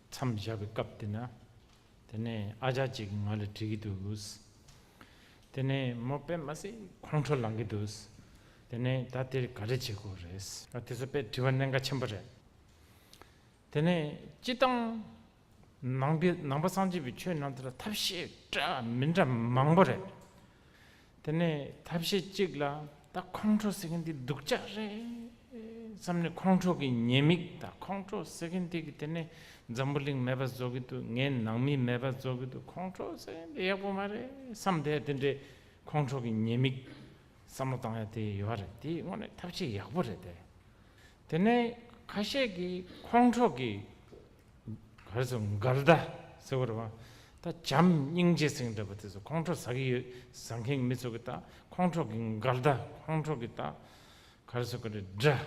མཚམས་བཞག་པའི་སྐབས་དེ་ན། དེ་ནས་ཨ་ཅག་ཅིག་ང་ལ་དྲིས་ཀྱི་འདུག། དེ་ནས་མོ་པད་མ་སི་ཁོང་ཁྲོ་ལངས་ཀྱི་འདུག་དེ་ནས་ད་དེར་ག་རེ་བྱེད་དགོས་རེད། དེ་ཚོ་དཔེ་བྲི་བ་གནད་འགག་ཆེན་པོ་རེད། དེ་ནས་སྤྱི་བཏང། ནང་པའི་ནང་པ་སངས་རྒྱས་པའི་ཆོས་རྣམས་དེ་ལ་ཐབས་ཤེས་འདྲ་མི་འདྲ་མང་པོ་རེད། དེ་ནས་ཐབས་ཤེས་གཅིག་ལ་ད་ཁོང་ཁྲོ་ཟེར་མཁན་འདི་སྡུག་ཅག་རེད། བསམ་ནས་ཁོང་ཁྲོ་གི་ཉེས་དམིགས་དང་ཁོང་ཁྲོ་ཟེར་གིན་འདུག་གི་དེ་ནས་འཛམ་བུ་གླིང་མེད་པ་བཟོ་གི་འདུག་ངའི་ནང་མི་མེད་པ་བཟོ་གི་འདུག་ཁོང་ཁྲོ་ཟེར་གིན་འདི་ཡག་པོ་མ་རེད་བསམ་བསྡད་དེ་འདྲའི་ཁོང་ཁྲོ་གི་ཉེས་དམིགས་བསམ་བློ་བཏང་ཡ་དེ་ཡོད་རེད་དེའི་དངོས་གནས་ཐབས་ཆེ་ཡག་པོ་རེད་དེ། དེ་ནས་ཁ་ཤས་ཀྱིས་ཁོང་ཁྲོ་གི། ག་རེ་ཟེར་འགལ་ཟླ་ཟེར་བ་རེད་བ། ད་བྱམས་སྙིང་རྗེ་སེང་འདྲ་བ་དེ་ཚོ་ཁོང་ཁྲོ་ཟ་གི་ཡོད་ཟ་མཁན་མི་ཚོ་གི་ད་ཁོང་ཁྲོ་གི་འགལ་ཟླ་ཁོང་ཁྲོ་གི་ད་གར་སོགས་ཀྱི་རི་འདྲ།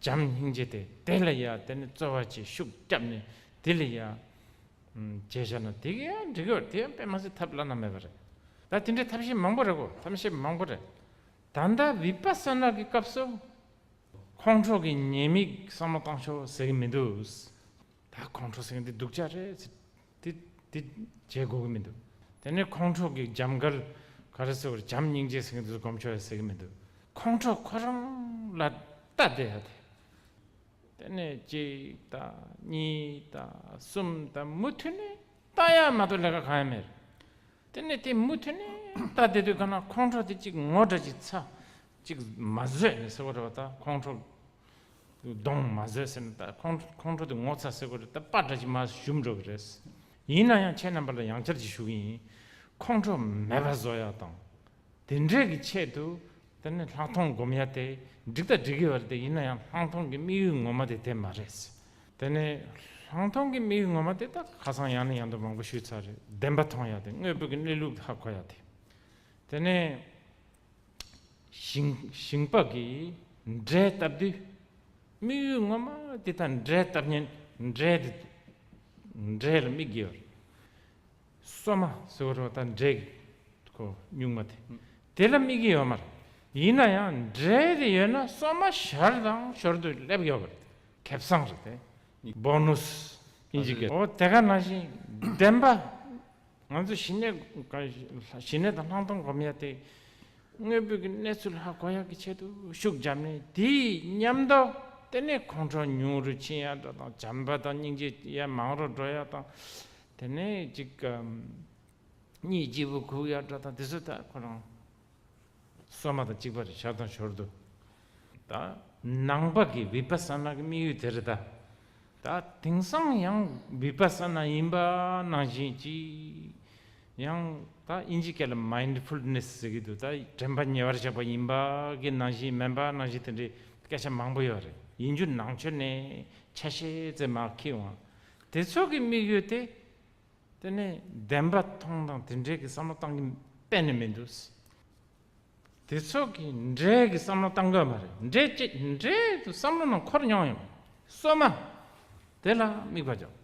བྱམས་སྙིང་རྗེ་སྟེ་དེ་ལ་ཡང་དེ་ནི་རྩོལ་བ་ཆེ་ཤུགས་བསྐྱབས་ནས་དེ་ལ་ཡང། ཅེས་བྱ་ན་དེ་ག་ཡང་འགྲིག་གི་དེ་ཡང་དཔེ་མ་ཟད་ཐབས་བླ་ན་མེད་པ་རེད། ད་དེ་འདྲའི་ཐབས་ཤེས་མང་པོ་རེད་གོ་ཐབས་ཤེས་མང་པོ་རེད། ད་ལྟ་བི་པ་སོ་ན་གི་སྐབས་སུ། ཁོང་ཁྲོ་གི་ཉེས་དམིགས་བསམ་བློ་བཏང་ཆོག་ཟེར་གི་མི་འདུག། ད་ཁོང་ཁྲོ་སེང་འདི་སྡུག་ཅག་རེད། དེ་འདི་བྱེད་དགོས་ཀྱི་མི་འདུག་དེ་ནས་ཁོང་ཁྲོ་གིས་འཇམ་དཀར་ག་རེ་ཟེར་བར་བྱམས་སྙིང་རྗེའི་སེང་འདི་ལ་སྒོམ་ཆོག་ཡ་ཟེར་གྱི་མི་འདུག་ཁོང་ཁྲོ་ཁོ་རང་ལ་ལྟ་བསྡད་ཡ་དེ། དེ་ནས་གཅིག་དང་གཉིས་དང་གསུམ་དང་མུ་མཐུད་ནས་ལྟ་ཡ་མ་གཏོགས་ལས་ཀ་གང་ཡང་མེད་རེད། དེ་ནས་དེ་མུ་མཐུད་ནས་ལྟ་བསྡད་དུས་གང་ན་ཁོང་ཁྲོ་དེ་གཅིག་ངོ་སྒྲ་གཅིག་ཚ་གཅིག་མ་བཟོད་ནས་ཟེར་བ་རེད་བ་ད་ཁོང་ཁྲོ་གདོང་མ་བཟོད་ཟེར་ན་ད་ཁོང་ཁོང་ཁྲོ་དེ་ངོ་ཚ་སེ་གོ་རེད་ད་པ་འདྲ་ཅིག་མ་ཞུམ་འགྲོ་གི་རེད། ཡིན་ན་ཡང་ཁྱེད་རྣམ་པ་ལ་ཡང་བསྐྱར་གྱིས་ཞུ་གི་ཡིན། ཁོང་ཁྲོ་མེད་པ་བཟོ་ཡག་དང། དེ་འདྲས་ཀྱི་ཆེད་དུ་དེ་ནི་ལྷག་མཐོང་སྒོམ་ཡ་དེ་འགྲིག་ད་འགྲིག་གི་བ་རེད་ད་ཡིན་ན་ཡང་ལྷག་མཐོང་གི་དམིགས་ཡུལ་ངོ་མ་དེ་དེ་མ་རེད། དེ་ནི་ལྷག་མཐོང་གི་དམིགས་ཡུལ་ངོ་མ་དེ་ད་ཁ་སང་ཡང་ནས་ཡང་དུ་མང་པོ་ཞུས་ཚར་རེད་བདེན་པ་མཐོང་ཡ་དེ་དངོས་པོ་གི་གནས་ལུགས་ཧ་གོ་ཡ་དེ་དེ་ནི། ཞིང་ལྤགས་ཀྱི་འབྲས་བཏབ་དུས། དམིགས་ཡུལ་ངོ་མ་དེ་དང་འབྲས་བཏབ་ཉིན་འབྲས་དེ་འབྲས་ལ་དམིགས་དགོས་པར། སོ་མ་ཟེར་བ་དང་འབྲས་ཀྱི་ཁོ་སྨྱུག་མ་དེ་དེ་ལ་དམིགས་ཀྱི་ཡོད་མ་རེད། ཡིན་ན་ཡང་འབྲས་དེ་ཡོད་ན་སོ་མ་ཞར་དང་ཞོར་དུ་སླེབས་ཡོད་པ་རེད། ཁེ་བཟང་རེད་དེ། Bonus། ཨོ་དེ་ག་ནང་བཞིན་བདེན་པ། ང་ཚོ་ཞི་གནས་དང་ལྷག་མཐོང་སྒོམ་ཡ་དེ་དངོས་པོའི་གནས་ཚུལ་ཧ་གོ་ཡག་གི་ཆེད་དུ་ཤུགས་བརྒྱབ་ནས་དེའི་ཉམས་རྟོགས་ལྟེ་གནས་ཁོང་ཁྲོ་ཉུང་རུ་ཕྱིན་ཡག་འགྲོ་དང་བྱམས་པ་དང་སྙིང་རྗེ་ཡ་མང་རུ་འགྲོ་ཡག་དང་དེ་ནས་གཅིག་གཉིས་སྐྱིད་པོ་གུག་ཡག་འགྲོ་དང་དེ་ཚོ་ད་ཁོ་རང་སོ་མ་དང་གཅིག་པར་བྱ་དང་ཞོར་དུ་དང། ནང་པ་གི་བི་པ་སཱ་ནཱ་གི་དམིགས་ཡུལ་དེར་བལྟ། དང། དེང་སང་ཡང་བི་པ་སཱ་ནཱ་ཡིན་པ་ནང་བཞིན་གྱིས། ཡང་དང། ཨིན་ཇི་ཀ་ལ Mindfulness ཟེར་གྱི་འདུག་དང་དྲན་པ་ཉེ་བར་བཞག་པ་ཡིན་པ་གི་ནང་བཞིན་མིན་པ་ནང་བཞིན་དེ་འདྲའི་སྐད་ཆ་མང་པོ་ཡོད་རེད་ཡིན་རྒྱུ་ནང་ཆོས་ནས་ཆ་ཤས་ཙེ་མ་ཁེ་འོང། དེ་ཚོ་གི་དམིགས་ཡུལ་དེ་དེ་ནས་བདེན་པ་མཐོང་དང་དེ་འདྲའི་གི་བསམ་བློ་བཏང་གི་གཏན་ནས་མི་འདུག། དེ་ཚོ་གི་འདྲའི་གི་བསམ་བློ་བཏང་དགོས་མ་རེད་འདྲའི་ཅི་འདྲའི་དུ་བསམ་བློ་ནང་འཁོར་མྱོང་ཡོད་པ་སོ་མ་དེ་ལ་དམིགས་པ་འཇོག་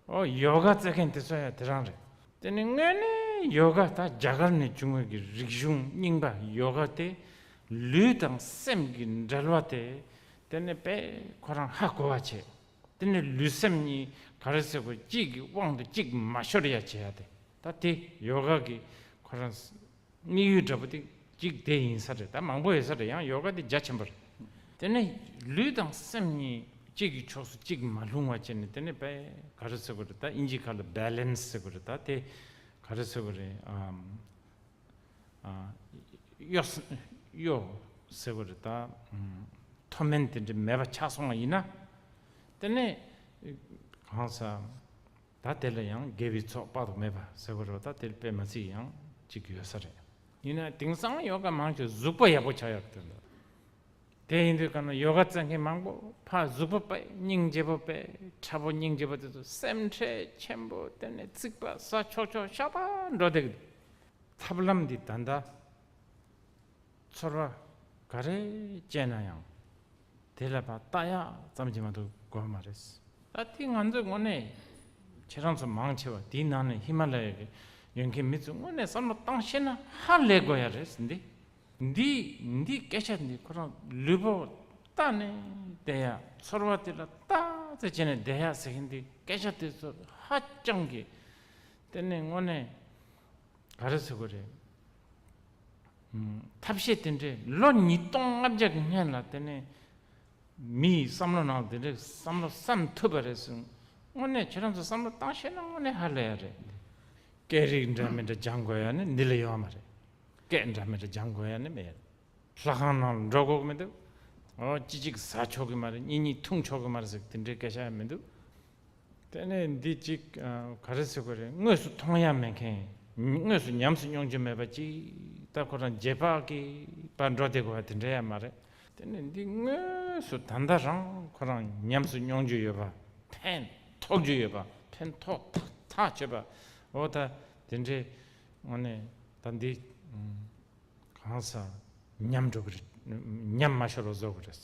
ཨོ་ཡོ་ག་བཙལ་མཁན་དེ་ཚོ་ཡང་དེ་རང་རེད། དེ་ནི་དངོས་གནས་ཡོ་ག་ད་རྒྱ་གར་ནས་བྱུང་བའི་གི་རིག་གཞུང་རྙིང་པ་ཡོ་ག་དེ་ལུས་དང་སེམས་གི་འབྲེལ་བ་དེ་དེ་ནི་དཔེ་ཁོ་རང་ཧ་གོ་བ་བྱེད། དེ་ནི་ལུས་སེམས་གཉིས་ག་རེ་ཟེར་དགོས་གཅིག་གི་དབང་དུ་གཅིག་མ་ཤོར་ཡ་བྱེད་ཡ་དེ་ད་དེ་ཡོ་ག་གི་ཁོ་རང་དམིགས་ཡུལ་འདྲ་པོ་དེ་གཅིག་དེ་ཡིན་ས་རེད་ད་མང་པོ་ཡོད་ས་རེད་ཡང་ཡོ་ག་དེ་རྒྱ་ཆེན་པོ་རེད་དེ་ནི་ལུས་དང་སེམས་གཉིས་གཅིག་གི་ཕྱོགས་སུ་གཅིག་མ་ལྷུང་བ་བྱེད་ནི་དེ་ནི་བེ་ག་རེ་ཟེར་དགོས་རེད་ད་དབྱིན་ཇིའི་ཁ་ལ Balance ཟེར་དགོས་རེད་ད་དེ་ག་རེ་ཟེར་དགོས་རེད་ཨ། གཡོ། གཡོ། ཟེར་བ་རེད་ད། མཐོ་དམན་དེ་འདྲ་མེད་པ་ཆགས་སོང་བ་ཡིན་ན། དེ་ནས། གང་ཟག། ད་དེ་ལ་ཡང་དགེ་བའི་ཚོགས་དཔག་ཏུ་མེད་པ་ཟེར་བ་རོ་ད་དེ་ལ་པད་མ་ཚིག་ཡང་གཅིག་ཡོད་ས་རེད། ཡིན་ན་དེང་སང་ཡོ་ག་མང་ཆེ་ཟུག་པ་ཡག་པོ་ཆགས་ཡག་དོན་དང། དེ་ཡིན་དུས་ག་ན་ཡོ་ག་རྩེ་མཁན་མང་པོ་ཕ་ཟུག་པ་པད་སྙིང་རྗེ་པོ་པད་ཁྲ་པོ་སྙིང་རྗེ་པོ་དེ་ཚོ་སེམས་ཁྲལ་ཆེན་པོ་དེ་ནས་ཚིག་པ་ཟ་ཆོག་ཆོག་ཤ་སྟག་འགྲོ་བསྡད་ཀྱི་འདུག། ཐབས་ལམ་འདི་ད་ལྟ་ཚོར་བ་ག་རེ་སྤྱད་ན་ཡང་དེ་ལ་བ་ལྟ་ཡག་ཙམ་གྱིས་མ་གཏོགས་དགོས་མ་རེད། ད་ལྟའི་ང་ཚོས་དངོས་གནས་ཁྱེད་རང་ཚོ་མང་ཆེ་བ་དེའི་ནང་ནས་ཧི་མ་ལ་ཡ་གི་ཡོད་མཁན་མི་ཚོས་དངོས་གནས་བསམ་བློ་བཏང་ཤེས་ན་ཧ་ལས་དགོས་ཡ་རེད་འདི་འདི་འདི་སྐད་ཆ་འདི་ཁོ་རང་ལུས་པོ་ལྟ་ནས་བསྡད་ཡ་ཚོར་བ་དེ་ལ་ལྟ་རྩེ་བྱས་ནས་བསྡད་ཡ་ཟེར་མཁན་འདི་སྐད་ཆ་དེ་ཚོ་ཧ་ཅང་གི་གཏན་ནས་དངོས་གནས། ག་རེ་ཟེར་གོ་རེད། ཐབས་ཤེས་དེ་འདྲས་ལོ་ཉིས་སྟོང་ལྔ་བརྒྱ་གི་སྔན་ལ་དེ་ནས་མི་ཡི་བསམ་བློ་ནང་དེ་འདྲས་བསམ་བློ་བསམ་ཐུབ་པ་རེད་ཟེར། དངོས་གནས་ཁྱེད་རང་ཚོ་བསམ་བློ་བཏང་ཤེས་ན་དངོས་གནས་ཧ་ལས་ཡ་རེད། སྐད་རིགས་འདྲ་མི་འདྲ་སྦྱང་དགོས་ཡ་ནི་འདི་ལས་ཡོད་མ་རེད། སྐད་འདྲ་མི་འདྲ་སྦྱང་དགོས་ཡ་ནི་མེད་རེད། ལྷ་ཁང་ནང་ལ་འབྲོག་གོག་མི་འདུག། གཅིག་གཅིག་ཟ་ཆོག་གི་མ་རེད་གཉིས་གཉིས་འཐུང་ཆོག་གི་མ་རེད་ཟེར་དེ་འདྲའི་སྐད་ཆ་ཡང་མི་འདུག། དེ་ནས་འདི་གཅིག་ག་རེ་ཟེར་དགོས་རེད་དངོས་སུ་མཐོང་ཡ་མེད་མཁན་དངོས་སུ་ཉམས་སུ་མྱོང་རྒྱུ་མེད་པ་ཅིག་ལྟ་ཁོ་རང་རྗེས་དཔག་གིས་པར་འགྲོ་བསྡད་དགོས་པ་དེ་འདྲ་ཡང་མ་རེད། དེ་ནས་འདི་དངོས་སུ་ད་ལྟ་རང་ཁོ་རང་ཉམས་སུ་མྱོང་རྒྱུ་ཡོད་པ་ཕན་ཐོགས་རྒྱུ་ཡོད་པ་ཕན་ཐོགས་ཐག་ཐག་ཆོད་པ་འོ་ད་དེ་འདྲའི་ངོ་ནས་ད་འདི། གང་སང་ཉམས་འགྲོ་གི་རེད། ཉམས་མ་ཤོར་བ་བཟོ་གི་རེད།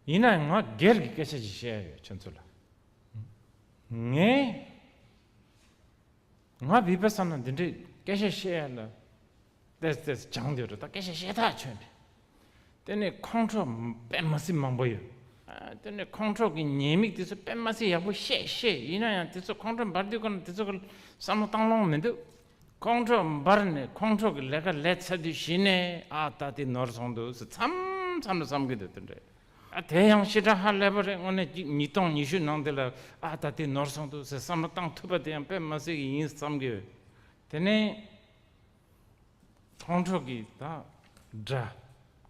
ཡིན་ན་ཡང་ང་སྒེར་གྱི་སྐད་ཆ་ཞིག་བཤད་ཡ་ཡོད་ཁྱོད་ཚོ་ལ། ངས་ང་བིས་པ་ས་ན་འདི་འདྲའི་སྐད་ཆ་བཤད་ཡ་ལ་བལྟས་བལྟས་སུ་སྦྱང་འདོད་རེད་ད་སྐད་ཆ་བཤད་ཐག་ཆོད་འདི། དེ་ནས་ཁོང་ཁྲོ་པད་མ་སི་མང་པོ་ཡོད། དེ་ནས་ཁོང་ཁྲོ་གི་ཉེས་དམིགས་དེ་ཚོ་པད་མ་སི་ཡག་པོ་ཤེས་ཤེས་ཡིན་ན་ཡང་དེ་ཚོ་ཁོང་ཁྲོ་འབར་དུས་ཀ་ན་དེ་ཚོ་གི་བསམ་བློ་བཏང་ལོང་མི་འདུག། ཁོང་ཁྲོ་འབར་ནས་ཁོང་ཁྲོ་གི་ལས་ཀ་ལས་ཚར་དུས་གཞི་ནས་ཨ་ད་དེ་ནོར་སོང་འདུག་ཟེར་མཚམས་མཚམས་ལ་བསམ་གི་འདུག་དེ་འདྲ་ཨ་དེ་ཡང་ཤི་དྲག་ཧ་ལས་པ་རེད་དངོས་གནས་ཀྱི་ཉིས་སྟོང་ཉི་ཤུ་ནང་དེ་ལ་ཨ་ད་དེ་ནོར་སོང་འདུག་ཟེར་བསམ་བློ་བཏང་ཐུབ་པ་དེ་ཡང་དཔེ་མ་ཟིག་གི་ཡིན་བསམ་གི་ཡོད་དེ་ནས་ཁོང་ཁྲོ་གི་ད་འདྲ་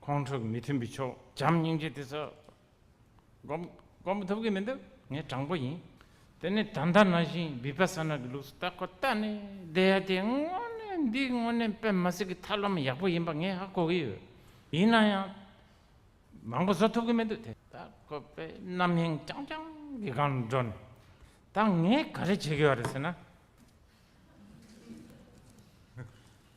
ཁོང་ཁྲོ་གི་མི་མཐུན་པའི་ཕྱོགས་བྱམས་སྙིང་རྗེ་དེ་ཚོ་བསྒོམ་མི་ཐུབ་ཀྱི་མི་འདུག་ངས་དྲང་པོ་ཡིན། དེ་ནས་ད་ལྟ་ན་བཞིན Vipassana གྱི་ལུགས་སུ་ལྟ་ཁོ་ལྟ་ནས་བསྡད་ཡ་དེ་དངོས་གནས་འདི་དངོས་གནས་པད་མ་སི་ཀའི་ཐབས་ལམ་ཡག་པོ་ཡིན་པ་ངས་ཧ་གོ་གི་ཡོད། ཡིན་ན་ཡང་མང་པོ་བཟོ་ཐུབ་ཀྱི་མི་འདུག་དེ་ལྟ་ཁོ་པས་རྣམ་གཡེང་རྐྱང་རྐྱང་གི་སྒང་དུ་འགྲོ་ནས་ད་ངས་ག་རེ་བྱེད་ཀྱི་ཡོད་རེད་ཟེར་ན།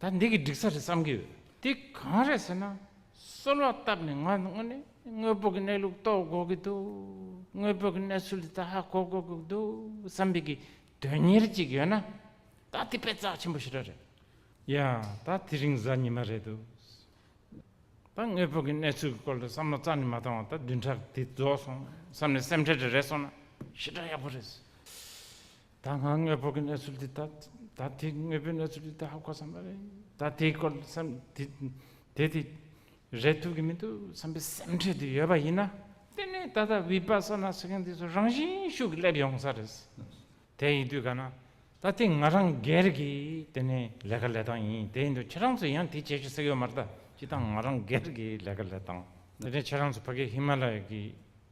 ད་འདི་གི་འགྲིག་ས་རེད་བསམ་གྱི་ཡོད། དེ་གང་རེད་ཟེར་ན། གསོལ་བ་བཏབ་ནས་ང་དངོས་གནས་དངོས་པོ་གི་གནས་ལུགས་རྟོགས་དགོས་ཀྱི་འདུག་དངོས་པོ་གི་གནས་ཚུལ་དེ་དག་ཧ་གོ་དགོས་ཀྱི་འདུག་བསམ་པའི་གི་དོན་གཉེར་ཅིག་ཡོད་ན། ད་དེ་པད་རྩག་ཆེན་པོ་ཞེ་དྲག་རེད། ཡང་ད་དེ་རིང་གཟའ་ཉི་མ་རེད་འདུག་ད་དངོས་པོ་གི་གནས་ཚུལ་གྱི་སྐོར་ལ་བསམ་བློ་རྩ་ནས་མ་བཏང་བར་ད་བདུན་ཕྲག་དེ་རྫོགས་སོང་བསམ་ནས་སེམས་ཁྲལ་དེ་རེག་སོང་ན་ཞེ་དྲག་ཡག་པོ་རེད། ད་སྔ་དངོས་པོ་གི་གནས་ཚུལ་འདི་ལྟ། ད་དེ་དངོས་པོའི་གནས་ཚུལ་འདི་ལྟ་ཧ་གོ་བསམ་པ་རེད། ད་དེའི་སྐོར་བསམ། དེ་དེ་རེད་ཐུབ་ཀྱི་མི་འདུག་བསམ་པའི་སེམས་ཁྲལ་དེ་ཡོད་པ་ཡིན་ན། དེ་ནི་ད་ལྟ་བི་པ་སོ་ན་ཟེར་མཁན་དེ་ཚོ་རང་བཞིན་ཤུགས་ཀྱིས་སླེབས་ཡོང་ས་རེད། དེ་ཡིན་དུས་ག་ན་ད་དེ་ང་རང་སྒེར་གྱི་དེ་ནི་ལས་ཀ་ལས་སྟངས་ཡིན་དེ་ཡིན་དུས་ཁྱེད་རང་ཚོས་ཡང་དེ་བྱེད་ཤེས་ས་ཡོད་མ་རེད་ད་སྤྱི་སྟངས་ང་རང་སྒེར་གྱི་ལས་ཀ་ལས་སྟངས། དེ་ནི་ཁྱེད་རང་ཚོ་ཕ་གི་ཧི་མ་ལ་ཡ་གི་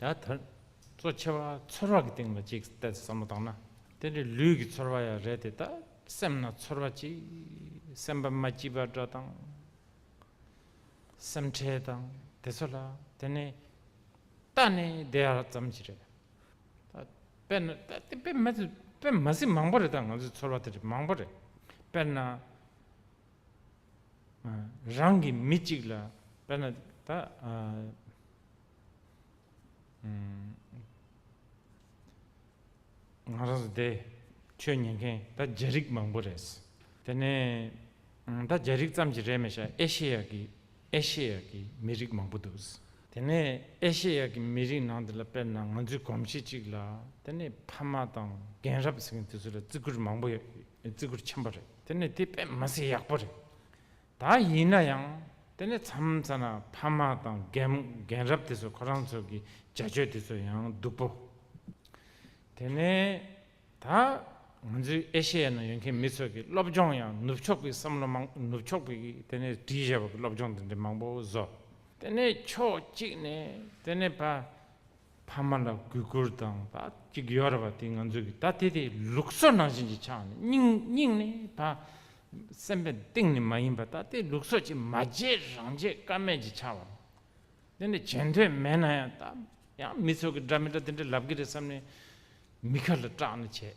ད་ཐེར། གཙོ་ཆེ་བ་ཚོར་བ་གི་སྟེང་ལ་གཅིག་སྟེ་བསམ་བློ་བཏང་ན། དེ་འདྲའི་ལུས་ཀྱི་ཚོར་བ་ཡང་རེད་དེ་ད་སེམས་ན་ཚོར་བ་གཅིག་སེམས་པ་མ་སྐྱིད་པ་འདྲ་དང། སེམས་ཁྲལ་དང་དེ་ཚོ་ལ་དེ་ནི་ད་ནི་བདེ་བ་ཙམ་གྱི་རེད། དཔེར་ན་ད་དེ་དཔེ་མ་ཚིག་མང་པོ་རེད་ད་ང་ཚོའི་ཚོར་བ་དེ་འདྲ་མང་པོ་རེད། དཔེར་ན། རང་གི་མི་གཅིག་ལ་དཔེར་ན་ད། ང་རང་ཚོ་འདི་ཆོས་ཉན་མཁན་ད་རྒྱ་རིགས་མང་པོ་རེད། དེ་ནས་ད་རྒྱ་རིགས་ཙམ་གྱི་རེད་མི་ཤ་ཨེ་ཤེ་ཡ་གི་ཨེ་ཤེ་ཡ་གི་མི་རིགས་མང་པོ་འདུག། དེ་ནས་ཨེ་ཤེ་ཡ་གི་མི་རིགས་ནང་དེ་ལ་དཔེར་ན་ང་ཚོའི་གོམས་གཤིས་གཅིག་ལ་དེ་ནས་ཕ་མ་དང་རྒན་རབས་ཟེར་མཁན་དེ་ཚོ་ལ་བརྩི་བཀུར་མང་པོ་ཡོད་བརྩི་བཀུར་ཆེན་པོ་རེད། དེ་ནི་དེ་པད་མ་སྲིན་ཡག་པོ་རེད་ད། ཡིན་ན་ཡང་དེ་ནི་མཚམས་མཚམས་ན་ཕ་མ་དང་རྒན་རབས་དེ་ཚོ་ཁོ་རང་ཚོ་གི་བྱ་སྤྱོད་དེ་ཚོ་ཡང་སྡུག་པོ། དེ་ནས་ད་ང་ཚོའི་ཨེ་ཤེ་ཡ་ན་ཡོད་མཁན་མི་ཚོ་གི་སློབ་སྦྱོང་ཡང་ནུབ་ཕྱོགས་པའི་བསམ་བློ་མང་ནུབ་ཕྱོགས་པའི་དེ་ནས་བྲིས་བཞེས་པ་གི་སློབ་སྦྱོང་དེ་འདྲའི་མང་པོ་བཟོ། དེ་ནས་ཕྱོགས་གཅིག་ནས་དེ་ནས་ཕ་ཕ་མ་ལ་གུས་བཀུར་དང་ད་ཅིག་ཡོད་རེད་པ་དེ་ང་ཚོས་གི་ད་དེ་དེ་ལུགས་སྲོལ་ནང་བཞིན་གྱི་ཆགས་ནས་སྙིང་སྙིང་ནས་ད་སེམས་པའི་གཏིང་ནས་མ་ཡིན་པ་ད་དེ་ལུགས་སྲོལ་གྱི་མ་བརྗེད་རང་བརྗེད་དཀའ་མེད་ཀྱི་ཆགས་པ་དེ་འདྲ་བྱེད་འདོད་མེད་ན་ཡང་ད་ཡང་མི་ཚོགས་ཀྱི་འདྲ་མི་འདྲ་དེ་འདྲ་ལབ་གི་རེད་བསམ་ནས་མི་ཁ་ལ་སྐྲག་ནས་བྱས།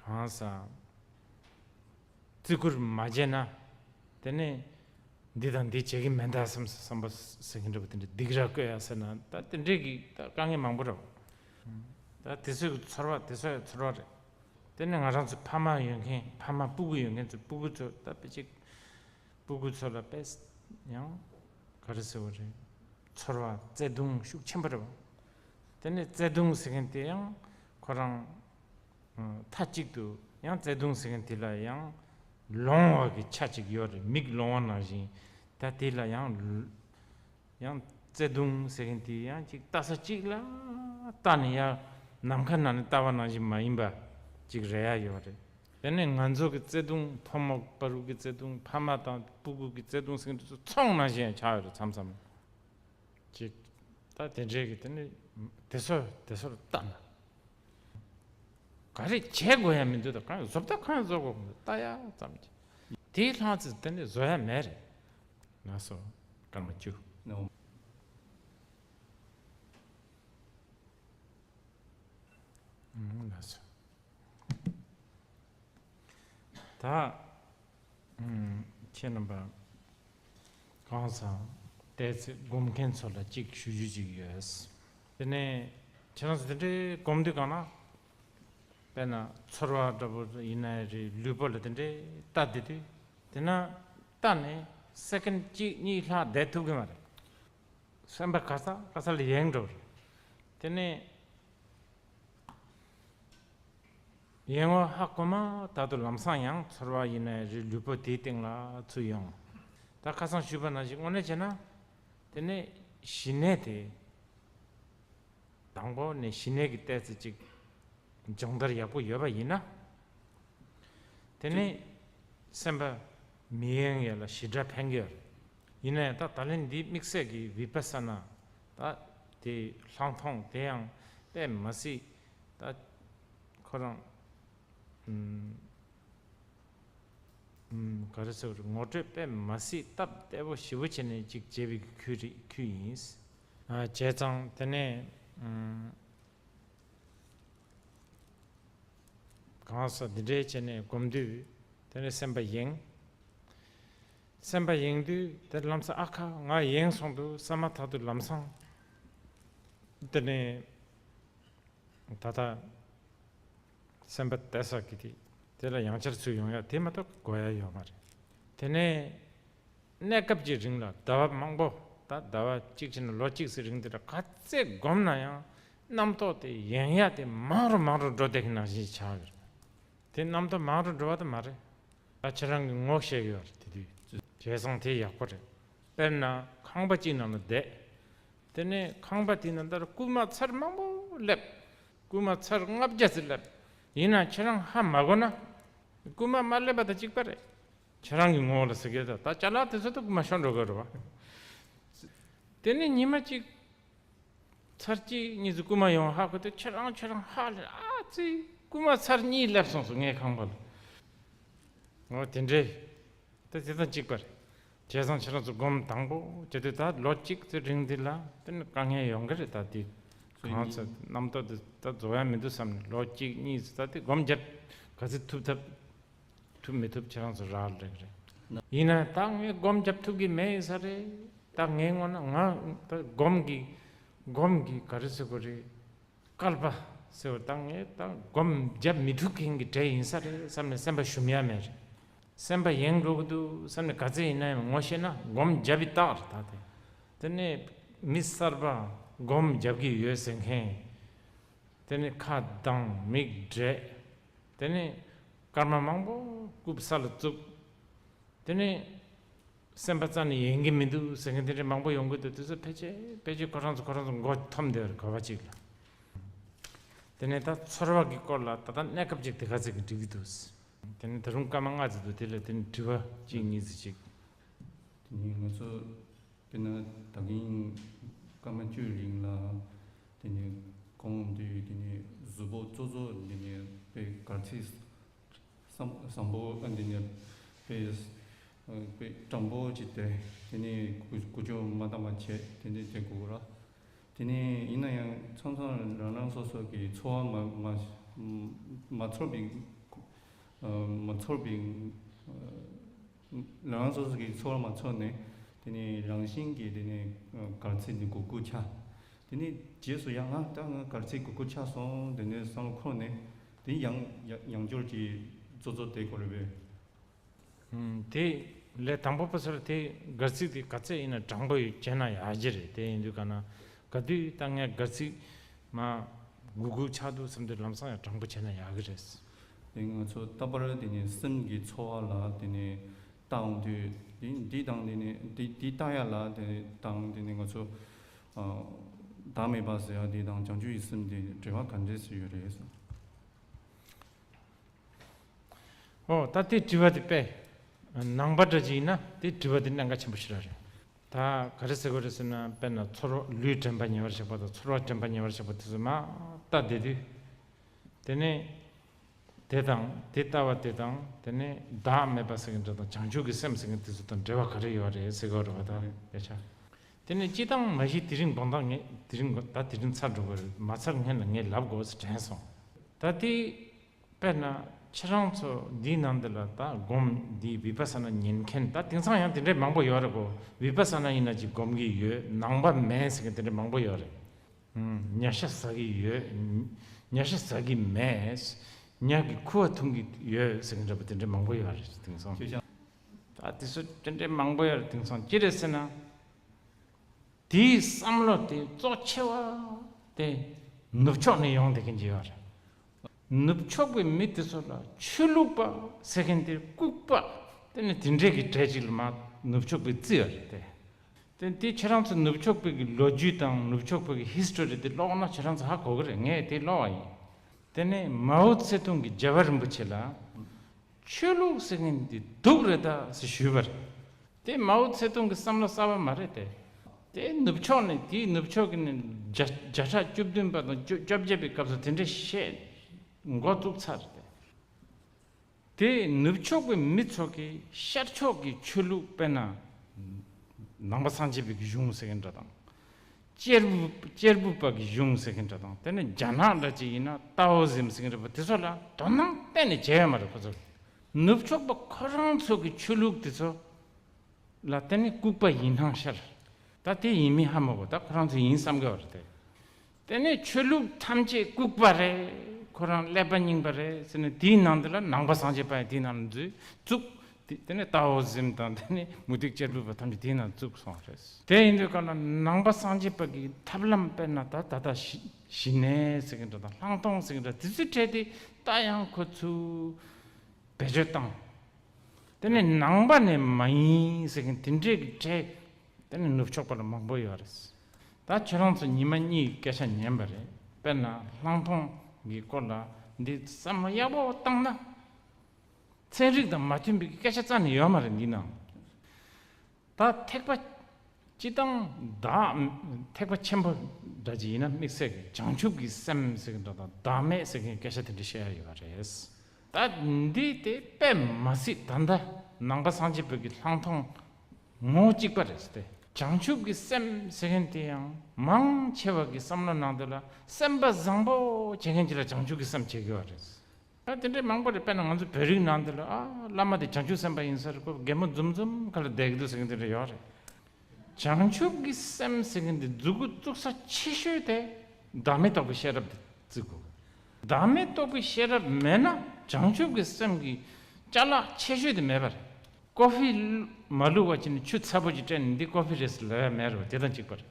གང་ཟག་བརྩི་བཀུར་མ་བྱས་ན། དེ་ནས་འདི་དང་འདི་བྱེད་ཀྱི་མེད་ད་བསམ་སོང་བསམ་པ་ཟེར་གྱིན་འདྲ་བོ་དེ་འདྲའི་སྡིག་ར་བསྐོས་ཡ་ཟེར་ན་ད་དེ་འདྲས་ཀྱི་ད་དཀའ་ངལ་མང་པོ་ར་བོ། ད་དེ་ཚོའི་གི་ཚོར་བ་དེ་ཚོ་ཡ་ཚོར་བ་རེད། དེ་ནས་ང་རང་ཚོ་ཕ་མ་ཡོད་མཁན་ཕ་མ་སྤུ་གུ་ཡོད་མཁན་ཚོ་སྤུ་གུ་ཚོ་ད་དཔེ་ཅིག་སྤུ་གུ་ཚོ་ལ་དཔེ་ཡང་ག་རེ་ཟེར་བ་རེད་ཚོར་བ་བརྩེ་དུང་ཤུགས་ཆེན་པོ་ར་བོ། དེ་ནས་བརྩེ་དུང་ཟེར་མཁན་དེ་ཡང་ཁོ་རང། མཐའ་གཅིག་ཏུ་ཡང་བརྩེ་དུང་ཟེར་མཁན་དེ་ལ་ཡང་ལོང་བ་གི་ཆ་གཅིག་ཡོད་རེད་མིག་ལོང་བ་ནང་བཞིན་ད་དེ་ལ་ཡང་ཡང་བརྩེ་དུང་ཟེར་མཁན་དེ་ཡང་གཅིག་ལྟ་ས་གཅིག་ལ་ལྟ་ནས་ཡང་ནམ་མཁའ་ནང་ནས་ལྟ་བ་ནང་བཞིན་མ་ཡིན་པ་གཅིག་རེ་ཡ་ཡོད་རེད། དེ་ནས་ང་ཚོ་གི་བརྩེ་དུང་ཕོ་མོ་དཔའ་རུ་གི་བརྩེ་དུང་ཕ་མ་དང་སྤུ་གུ་གི་བརྩེ་དུང་ཟེར་མཁན་དེ་ཚོ་ཚོང་ནང་བཞིན་ཡང་ཆགས་ཡོད་རེད་མཚམས་མཚམས་ལ་གཅིག་ལྟ་དེ་འདྲའི་གི་དེ་ནས་དེ་ཚོ་དེ་ཚོར་ལྟ་ན་ག་རེ་བྱེད་དགོས་ཡ་མི་འདུག་ད་གང་བཟོ་བལྟ་གང་བཟོ་དགོས་ལྟ་ཡ་ཙམ་གྱིས་དེའི་ལྷང་ཚེ་དེ་འདྲ་བཟོ་ཡ་མེད་རེད། ན་སོ་གང་བཅུ། ན་སོ། ད། ཁྱེད་རྣམ་པ། གང་བཟང་བལྟས་ཚེ་སྒོམ་མཁན་ཚོ་ལ་གཅིག་ཞུ་རྒྱུ་གཅིག་ཡོད། དེ་ནས་ཁྱེད་རང་ཚོ་དེ་འདྲའི་སྒོམ་དུས་གང་ན་དཔེར་ན་ཚོར་བ་འདྲ་པོ་ཡིན་ན་རེ་ལུས་པོ་ལ་དེ་འདྲའི་ལྟ་བསྡད་དུས་དེ་ན་ལྟ་ནས་སེཀེན་གཅིག་གཉིས་ལྷག་བསྡད་ཐུབ་གི་མ་རེད། སེམས་པ་ག་ས་ག་ས་ལ་ཡེངས་འགྲོ་བ་རེད། དེ་ནས་ཡེངས་བ་ཧ་གོ་མ་ད་དུ་ལམ་སང་ཡང་ཚོར་བ་ཡིན་ན་རེ་ལུས་པོ་དེའི་སྟེང་ལ་ཚུད་ཡོང། ད་ཁ་སང་བཞུད་པ་ན་ཞིག་དངོས་གནས་བྱས་ན། དེ་ནས་ཞི་གནས་དེ། དང་པོ་ནས་ཞི་གནས་ཀྱི་ལྟས་ཚེ་གཅིག། སྦྱོང་བརྡར་ཡག་པོ་ཡོད་པ་ཡིན་ན། དེ་ནས་སེམས་པ་མི་གཡེང་ཡས་ལ་ཞི་དྲག་འཕེལ་གྱི། ཡིན་ན་ཡང་ད་ད་ལན་འདི་དམིགས་བསལ་གྱི་བི་པ་ས་ན། ད་དེ་ལྷག་མཐོང་དེ་ཡང་དཔེ་མ་སྲིད། ད་ཁོ་རང། ག་རེ་ཟེར་བ་རེད་ངོ་སྤྲོད་དཔེ་མ་སྲིད་སྟབས་བདེ་པོ་ཞི་བོ་བྱེད་ནས་ཅིག་བྱེད་པའི་ཁུལ་རེད་ཁུལ་ཡིན། བྱས་ཙང་དེ་ནས་གང་ཟག་འདི་འདྲའི་བྱས་ནས་སྒོམ་དུས་དེ་ནས་སེམས་པ་ཡེངས། སེམས་པ་ཡེངས་དུས་དེར་ལམ་སེང་ཨ་ཁ་ང་ཡེངས་སོང་འདུག་བསམ་མ་ཐག་ཏུ་ལམ་སང་དེ་ནས་ད་ལྟ། སེམས་པ་དད་སོགས་ཀྱིས་དེ་དེ་ལ་ཡང་བསྐྱར་ཚུད་ཡོང་ཡ་དེ་མ་གཏོགས་དགོས་ཡ་ཡོད་མ་རེད། དེ་ནས་གནས་སྐབས་ཀྱི་རིང་ལ་ཟླ་བ་མང་པོ་དང་ཟླ་བ་གཅིག་ཕྱིན་ན་ལོ་གཅིག་ཚེ་རིང་དེ་འདྲ་ག་ཚད་བསྒོམས་ན་ཡང་རྣམ་རྟོག་དེ་ཡན་ཡ་དེ་མང་རུ་མང་རུ་འགྲོ་བསྡད་ཀྱི་ནང་བཞིན་ཆགས་ཡོད་རེད། དེ་རྣམ་རྟོག་མང་རུ་འགྲོ་བ་དེ་མ་རེད། ད་ཁྱེད་རང་གིས་ངོ་ཤེས་ཡོད་རེད་དེ་དུས་བྱས་སོང་དེ་ཡག་པོ་རེད། དཔེར་ན་ཁང་པ་གཅིག་ནང་ལ་བསྡད། དེ་ནས་ཁང་པ་དེའི་ནང་ལྟར་རྐུན་མ་ཚར་མང་པོ་སླེབས། རྐུན་མ་ཚར་ལྔ་བརྒྱ་ཟེར་ལབ། ཡིན་ནའང་ཁྱེད་རང་ཧ་མ་གོ་ན། རྐུན་མ་མ་སླེབས་པ་དང་གཅིག་པ་རེད། ཁྱེད་རང་གི་ངོ་བོ་ལ་ཟེར་གལ་ཏོ། ད་བྱ་ལག་དེ་ཚོ་དང་རྐུན་མ་ཤོར་འགྲོ་གལ་རོ་བ། དེ་ནས་ཉི་མ་གཅིག། ཚར་གཅིག་གཉིས་ཚོ་རྐུན་མ་ཡོང་བ་ཧ་གོ་སྟེ་ཁྱེད་རང་ཁྱེད་རང་ཧ་ལེ་ཨ་ཙི། རྐུན་མ་ཚར་གཉིས་སླེབས་སོང་ཟུར་ངའི་ཁང་པ་ལ། ངོ་བོ་དེ་འདྲའི། ད་དེ་དང་གཅིག་པ་རེད། བྱས་ཙང་ཕྱི་ལོགས་སུ་སྒོམ་དང་པོ་བྱས་ཏེ་ད་ལོ་གཅིག་ཚེ་རིང་འདི་ལ་དེ་ནི་དཀའ་ངལ་ཡོང་གི་རེད་ད་དེ་གང་ཚེ་རྣམ་རྟོག་དེ་ད་རྫོགས་ཡ་མི་འདུག་བསམ་ནས་ལོ་གཅིག་གཉིས་ཚེ་ད་དེ་སྒོམ་བརྒྱབ་ག་ཚེ་ཐུབ་ཐབས་ཐུབ་མི་ཐུབ་ཁྱེད་རང་ཚོ་རག་ལས་རེད། ཡིན་ན་ད་ངས་སྒོམ་བརྒྱབ་ཐུབ་གི་མེད་ས་རེད་ད་ངའི་ངོ་ན་ང་ད་སྒོམ་གི་སྒོམ་གི་ག་རེ་ཟེར་གོ་རེ་སྐལ་པ་ཟེར་བ་ད་ངས་ད་སྒོམ་བརྒྱབ་མི་ཐུབ་མཁན་གྱི་གྲས་ཡིན་ས་རེད་བསམ་ནས་སེམས་པ་ཞུམ་ཡ་མེད་རེད། སེམས་པ་ཡེངས་དགོས་ཀྱི་འདུག་བསམ་ནས་ག་ཚད་ཡིན་ན་ཡང་ངོ་ཤེས་ན་སྒོམ་རྒྱབ་ཡི་དྭགས་རེད་ད་དེ། དེ་ནས་མི་གསར་པ་སྒོམ་རྒྱབ་ཀྱི་ཡོད་ཟེར་མཁན། དེ་ནས་ཁ་གདངས་མིག་བགྲད། དེ་ནས་སྐར་མ་མང་པོ་རྐུབ་ས་ལ་བཙུག། དེ་ནས་སེམས་པ་རྩ་ནས་ཡེངས་ཀྱི་མི་འདུག་ཟེར་མཁན་དེ་འདྲ་མང་པོ་ཡོང་གི་འདུག་དེ་ཚོ་ཕལ་ཆེར་ཕལ་ཆེར་ཁོ་རང་ཚོ་ཁོ་རང་ཚོ་མགོ་འཐོམ་འདོད་རེད་གོ་བ་ཅིག་ལ། དེ་ནས་ད་ཚོར་བ་གྱི་སྐོར་ལ་ད་ལྟ་གནས་སྐབས་ཅིག་དེ་ག་ཚད་ཀྱི་འགྲིག་གི་འདུག་ཟེར། དེ་ནས་ད་རུང་སྐར་མ་ལྔ་བརྩིགས་འདུག་དེ་ལ་དེ་ནས་དྲི་བ་གཅིག་གཉིས་བརྩིགས་ཤིག། དེ་ནས་ང་ཚོ་དཔེར་ན་ད་གིན་སྐར་མ་བཅུའི་རིང་ལ་དེ་ནས་ཁོང་དུས་དེ་ནས་གཟུ་བོ་གཙོ་གཙོ་དེ་ནས་དཔེ་གར་ཚིག་བསམ་བསམ་བོ་དེ་ནས་དཔེ་དཔེ་སྤྲང་བོ་ཅིག་དེ་དེ་ནས་གུ་གུ་ཅོ་མ་ད་མ་བྱས་དེ་ནས་དེ་གུ་ར། དེ་ནི་ཡིན་ན་ཡང་ཚང་ཚང་རང་རང་སོ་སོ་གི་འཚོ་བ་མ་ཚོར་བའི་རང་རང་སོ་སོ་གི་འཚོ་བ་མ་ཚོར་ནས་དེ་ནི་རང་བཞིན་གྱི་དེ་ནི་གར་ཚིག་གི་གུ་གུ་ཆ། དེ་ནི་རྗེས་སུ་ཡང་ད་ང་གར་ཚིག་གི་གུ་གུ་ཆ་སོང་དེ་ནི་བསམ་བློ་འཁོར་ནས་དེ་ཡང་ཡང་སྦྱོར་གྱི་རྩོ་རྩོ་དེ་གོ་རེ་བས། དེ་ལས་དང་པོ་པ་སོར་དེ་སྒར་ཚིག་དེ་ག་ཚད་ཡིན་ན་དྲང་པོ་ཡོད་ཅེ་ན་ཡག་གྱི་རེད་དེ་ཡིན་དུས་ག་ན་ག་དུས་ད་ངས་སྒར་ཚིག་མ་དགུ་དགུ་ཆགས་འདུག་བསམ་དུས་ལམ་སང་ཡང་དྲང་པོ་བྱས་ན་ཡག་གི་རེད། དེ་ང་ཚོ་ལྟ་བར་དེ་ནི་སེམས་ཀྱི་ཚོར་བ་ལ་དེ་ནི་བཏང་དུས་དེ་འདི་དང་དེ་ནི་དེ་འདི་ལྟ་ཡ་ལ་དེ་དང་དེ་ནི་ང་ཚོ་བདག་མེད་པ་ཟེར་ཡ་དེ་དང་བྱང་ཆུབ་ཀྱི་སེམས་དེ་འབྲེལ་བ་ག་འདྲས་སུ་ཡོད་རེད། ཨོ་ད་དེ་བྲིས་པ་དེ་དཔེ་ནང་པ་འདྲ་ཅིག་ཡིན་ན་དེ་བྲིས་པ་དེ་གནད་འགག་ཆེན་པོ་ཞིག་རག་རེད། ད་ག་རེ་ཟེར་དགོས་རེད་ཟེར་ན་དཔེར་ན་ཚོར་བ་ལུས་དྲན་པ་ཉེ་བར་གཤེགས་པ་དང་ཚོར་བ་དྲན་པ་ཉེ་བར་གཤེགས་པ་དེ་ཚོ་མ་ལྟ་བསྡད་དུས། དེ་ནས་དེ་དང་དེ་ལྟ་བ་དེ་དང་དེ་ནས་བདག་མེད་པ་ཟེར་མཁན་འདྲ་དང་བྱང་ཆུབ་ཀྱི་སེམས་ཟེར་མཁན་དེ་ཚོ་དང་འབྲེལ་བ་ག་རེ་ཡོད་རེད་ཟེར་དགོས་རེད་བ་ད་ཡ་ཆ། དེ་ནས་སྤྱི་བཏང་མ་གཞི་དེ་རིང་དགོངས་དག་ངེད་དེ་རིང་དགོངས་ད་དེ་རིང་ཚར་འགྲོ་གི་རེད་མ་ཚར་ངེད་ལ་ངེད་ལབ་དགོས་ཟེར་དྲན་སོང། ད་དེ་དཔེར་ན་ཁྱེད་རང་ཚོ་འདིའི་ནང་འདི་ལ་ད་སྒོམ་འདིའི་བི་པ་ས་ན་ཉན་མཁན་ད་དེང་སང་ཡང་དེ་འདྲའི་མང་པོ་ཡོད་རེད་གོ་བི་པ་ས་ན་ཡིན་ན་ཅིག་སྒོམ་གི་ཡོད་ནང་པ་མེད་ཟེར་མཁན་དེ་འདྲའི་མང་པོ་ཡོད་རེད། ཉྭ་ཤ་ཟ་གི་ཡོད་ཉྭ་ཤ་ཟ་གི་མེད་ཉྭ་གི་ཁུ་བ་འཐུང་གི་ཡོད་ཟེར་མཁན་འདྲ་པོ་དེ་འདྲའི་མང་པོ་ཡོད་རེད་དེང་སང། ད་དེ་ཚོ་དྲན་དྲན་མང་པོ་ཡོད་དེང་སང་ཅི་རེད་ཟེར་ན། དེའི་བསམ་བློ་དེ་གཙོ་ཆེ་བ་དེ་ནུབ་ཕྱོགས་ནས་ཡོང་བསྡད་མཁན་གྱི་ཡོད་རེད། ནུབ་ཕྱོགས་པའི་མི་དེ་ཚོ་ལ་ཆོས་ལུགས་པ་ཟེར་མཁན་དེ་ལྐུགས་པ་དེ་ནི་དེ་འདྲས་ཀྱི་གྲས་ཅིག་ལ་མ་ནུབ་ཕྱོགས་པའི་རྩིས་ཡོད་རེད་དེ། དེ་ཁྱེད་རང་ཚོ་ནུབ་ཕྱོགས་པའི་གི་ལོ་རྒྱུས་དང་ནུབ་ཕྱོགས་པའི་གི history དེ་ཀློག་ན་ཁྱེད་རང་ཚོ་ཧ་གོ་གི་རེད་ངས་དེ་ཀློག་བ་ཡིན། དེ་ནས་མའོ་ཙེ་ཏུང་གི་རྒྱལ་བ་རིན་པོ་ཆེ་ལ། ཆོས་ལུགས་ཟེར་མཁན་འདི་སྡུག་རེད་དཱ་ཟེར་ཞུས་པ་རེད། དེ་མའོ་ཚེ་ཏུང་གི་བསམ་བློ་གསར་བ་མ་རེད་དེ། དེ་ནུབ་ཕྱོགས་ནས་དེའི་ནུབ་ཕྱོགས་ཀྱི་ནས་བརྒྱ་ཕྲག་བཅུ་བདུན་པ་དང་བཅོ་བརྒྱད་པའི་སྐབས་སུ་དེ་འདྲའི་བཤད་མགོ་བཙུགས་ཚར་རེད་དེ། དེ་ནུབ་ཕྱོགས་པའི་མི་ཚོ་གི་ཤར་ཕྱོགས་ཀྱི་ཆོས་ལུགས་དཔེར་ན་ནང་པ་སངས་རྒྱས་པའི་གཞུང་ཟེར་མཁན་འདྲ་དང། གཅེར་བུ་གཅེར་བུ་པ་གི་གཞུང་ཟེར་གྱིན་འདྲ་དང་དེ་ནི་རྒྱ་ནག་འདྲ་ཅིག་ཡིན་ན་ཏའོ་ཟིམ་ཟེར་གྱིན་འདྲ་པོ་དེ་ཚོ་ལ་དོ་སྣང་གཏན་ནས་བྱེད་ཡ་མ་རེད་ཁོ་ཚོ་ནུབ་ཕྱོགས་པ་ཁོ་རང་ཚོ་གི་ཆོས་ལུགས་དེ་ཚོ་ལ་གཏན་ནས་ལྐུགས་པ་ཡིན་སྣང་ཤར་ད་དེ་ཡིན་མིན་ཧ་མི་གོ་ད་ཁོ་རང་ཚོ་ཡིན་བསམ་གི་བ་རེད་དེ་དེ་ནས་ཆོས་ལུགས་ཐམས་ཅད་ལྐུགས་པ་རེད་ཁོ་རང་ཀླད་པ་རྙིང་པ་རེད་ཟེར་ནས་དེའི་ནང་དེ་ལ་ནང་པ་སངས་རྒྱས་པ་ཡང་དེའི་ནང་ལ་འཛུལ་བཙུགས་དེ་ནས་ཏའོ་ཟིམ་དང་དེ་ནས་མུ་ཏིག་ཅལ་འབུད་པ་ཐམས་ཅད་དེའི་ནང་བཅུག་སོང་བ་རེད། དེ་ཡིན་དུས་ཀ་ན་ནང་པ་སངས་རྒྱས་པ་གིས་ཐབས་ལམ་དཔེར་ན་ད་ད་ད་ཞི་ནས་ཟེར་གྱི་འདུག་དང་ལྷང་མཐོང་ཟེར་གྱི་འདུག་དེ་ཚོའི་གྲས་དེ་ད་ཡང་ཁོ་ཚོས་བེད་སྤྱོད་བཏང། དེ་ནས་ནང་པ་ནས་མ་ཡིན་ཟེར་གྱི་དེ་འདྲའི་གྲས་དེ་ནས་ནུབ་ཕྱོགས་པ་ལ་མང་པོ་ཡོད་རེད། ད་ཁྱོད་རང་ཚོ་ཉི་མ་གཉིས་ཀྱི་སྐད་ཆ་ཉན་པ་རེད་དཔེར་ན་ལྷང་མཐོང་གི་སྐོར་ལ་འདི་བསམ་བློ་ཡག་པོ་བཏང་ན། ཚན་རིག་དང་མ་མཐུན་པའི་སྐད་ཆ་རྩ་ནས་ཡོད་མ་རེད་འདི་ནང་ད་ཐེག་པ་སྤྱི་བཏང་བདག་ཐེག་པ་ཆེན་པོ་འདྲ་ཅི་ཡིན་ན་དམིགས་བསལ་གྱི་བྱང་ཆུབ་ཀྱི་སེམས་ཟེར་གྱི་འདྲ་དང་བདག་མེད་ཟེར་མཁན་སྐད་ཆ་དེ་འདྲ་བཤད་ཡ་ཡོད་པ་རེད། ད་འདི་དེ་དཔེ་མ་ཟིག་ད་ལྟ་ནང་པ་སངས་རྒྱས་བོད་ཀྱི་ལྷང་ཐོང་ངོ་གཅིག་པ་རེད་ཟེར། བྱང་ཆུབ་ཀྱི་སེམས་ཟེར་མཁན་དེ་ཡང་མང་ཆེ་བ་གི་བསམ་བློ་ནང་དོན་ལ་སེམས་པ་བཟང་པོ་བྱེད་མཁན་གྱི་ལ་བྱང་ཆུབ་ཀྱི་སེམས་བྱེད་དགོས་པ་རེད། ད་དེ་འདྲའི་མང་པོ་རེད་དཔེར་ན་ང་ཚོ་བོད་རིགས་ནང་དེ་ལ་ཨ་བླ་མ་དེ་བྱང་ཆུབ་སེམས་དཔའ་ཡིན་ས་རེད་ཁོ་རྒད་མོ་འཛུམ་འཛུམ་ག་ལ་བསྡད་གི་འདུག་ཟེར་གི་འདི་འདྲ་ཡོད་རེད། བྱང་ཆུབ་ཀྱི་སེམས་ཟེར་གི་འདི་རྫུ་གུ་བཙུགས་ས་ཆེ་ཤོས་དེ་བདག་མེད་རྟོགས་པའི་ཤེས་རབ་དེ་བརྩི་དགོས། བདག་མེད་རྟོགས་པའི་ཤེས་རབ་མེད་ན་བྱང་ཆུབ་ཀྱི་སེམས་ཀྱི་བཅའ་ལག་ཆེ་ཤོས་དེ་མེད་པ་རེད། ཀོ་ཧྥི། མ་ལུས་བ་ཅི་ནས་ཆུ་ཚ་པོ་ཅིག་སྤྲད་ནས་འདི་ཀོ་ཧྥི་རེད་ཟེར་ལེ་བས་མེད་རེད་བ་དེ་དང་གཅིག་པ་རེད།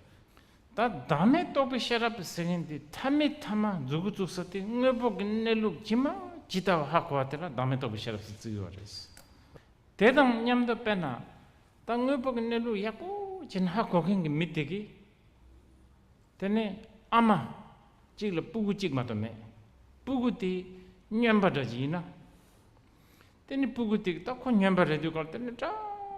ད་བདག་མེད་རྟོགས་པའི་ཤེས་རབ་ཟེར་མཁན་དེ་ཐ་མི་ཐ་མ་རྫུ་གུ་རྩུབ་ས་དེ་དངོས་པོ་གི་གནས་ལུགས་ཇི་མ་ཇི་ལྟ་བ་ཧ་གོ་བ་དེ་ལ་བདག་མེད་རྟོགས་པའི་ཤེས་རབ་ཟེར་རྩིས་ཡོད་རེད། དེ་དང་མཉམ་དུ་དཔེར་ན། ད་དངོས་པོ་གི་གནས་ལུགས་ཡག་པོ་ཅན་ཧ་གོ་མཁན་གྱི་མི་དེ་གིས། དེ་ནས་ཨ་མ་གཅིག་ལ་སྤུ་གུ་གཅིག་མ་གཏོགས་མེད། སྤུ་གུ་དེ་སྨྱོན་པ་འདྲ་ཅིག་ཡིན་ན། དེ་ནི་སྤུ་གུ་ཏིག་ཏག་ཁོ་སྙོམས་པར་རེ་དོའི་སྐབས་དེ་ནི་སྐྲ་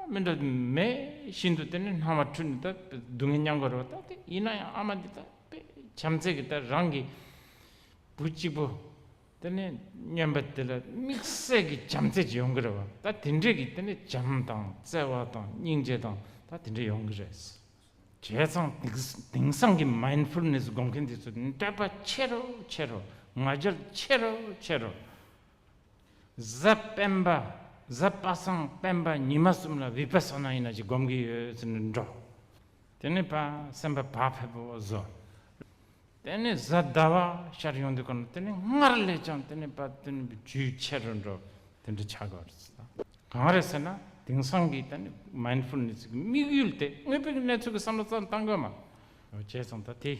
མི་འདྲ་མེད་བཞིན་དུ་དེ་ནི་སྣང་བ་འཁྲུལ་ནས་ལྟ་བས་སྡུག་བསྔལ་མྱང་དགོས་རེ་བ་ལྟ་སྟེ་ཡིན་ན་ཡང་ཨ་མ་འདི་ལྟ་བས་བྱམས་བརྩེ་གི་ལྟར་རང་གི་བུ་གཅིག་པོ་དེ་ནི་སྙོམས་པ་དེ་ལ་དམིགས་བསལ་གྱི་བྱམས་བརྩེ་ཅིག་ཡོང་གི་རེ་བ་ལྟ་དེ་འདྲས་ཀྱི་དེ་ནི་བྱམས་དང་བརྩེ་བ་དང་སྙིང་རྗེ་དང་ལྟ་དེ་འདྲས་ཡོང་གི་རེད། བྱས་ཙང་དེང་སང་གི Mindfulness དགོངས་མཁན་དེ་ཚོ་ནི་དད་པ་ཆེ་རུ་ཆེ་རུ་ང་རྒྱལ་ཆེ་རུ་ཆེ་རུ། གཟའ་སྤེན་པ་གཟའ་པ་སངས་སྤེན་པ་ཉི་མ་གསུམ་ལ་བི་པ་སོ་ན་ཡིན་ན་ཅིག་བསྒོམ་གྱི་ཡོད་ཟེར་ནས་འགྲོ། དེ་ནས་པ་སེམས་པ་བག་ཕེབས་པོ་བཟོ། དེ་ནས་གཟའ་ཟླ་བ་ཤར་ཡོང་དུས་དགོན་པ་དེ་ནས་སྔར་ལས་ཀྱང་དེ་ནས་པ་དེ་ནས་རྒྱུས་ཆེ་རུ་འགྲོ་དེ་འདྲ་བྱ་དགོས་རེད་ཟེར། གང་རེད་ཟེར་ན་དེང་སང་གི་ད་ནི Mindfulness གི་དམིགས་ཡུལ་དེ་དངོས་པོའི་གནས་ཚུལ་གྱི་བསམ་བློ་ཙམ་གཏང་དགོས་མ། བྱས་སོང་ད་དེ།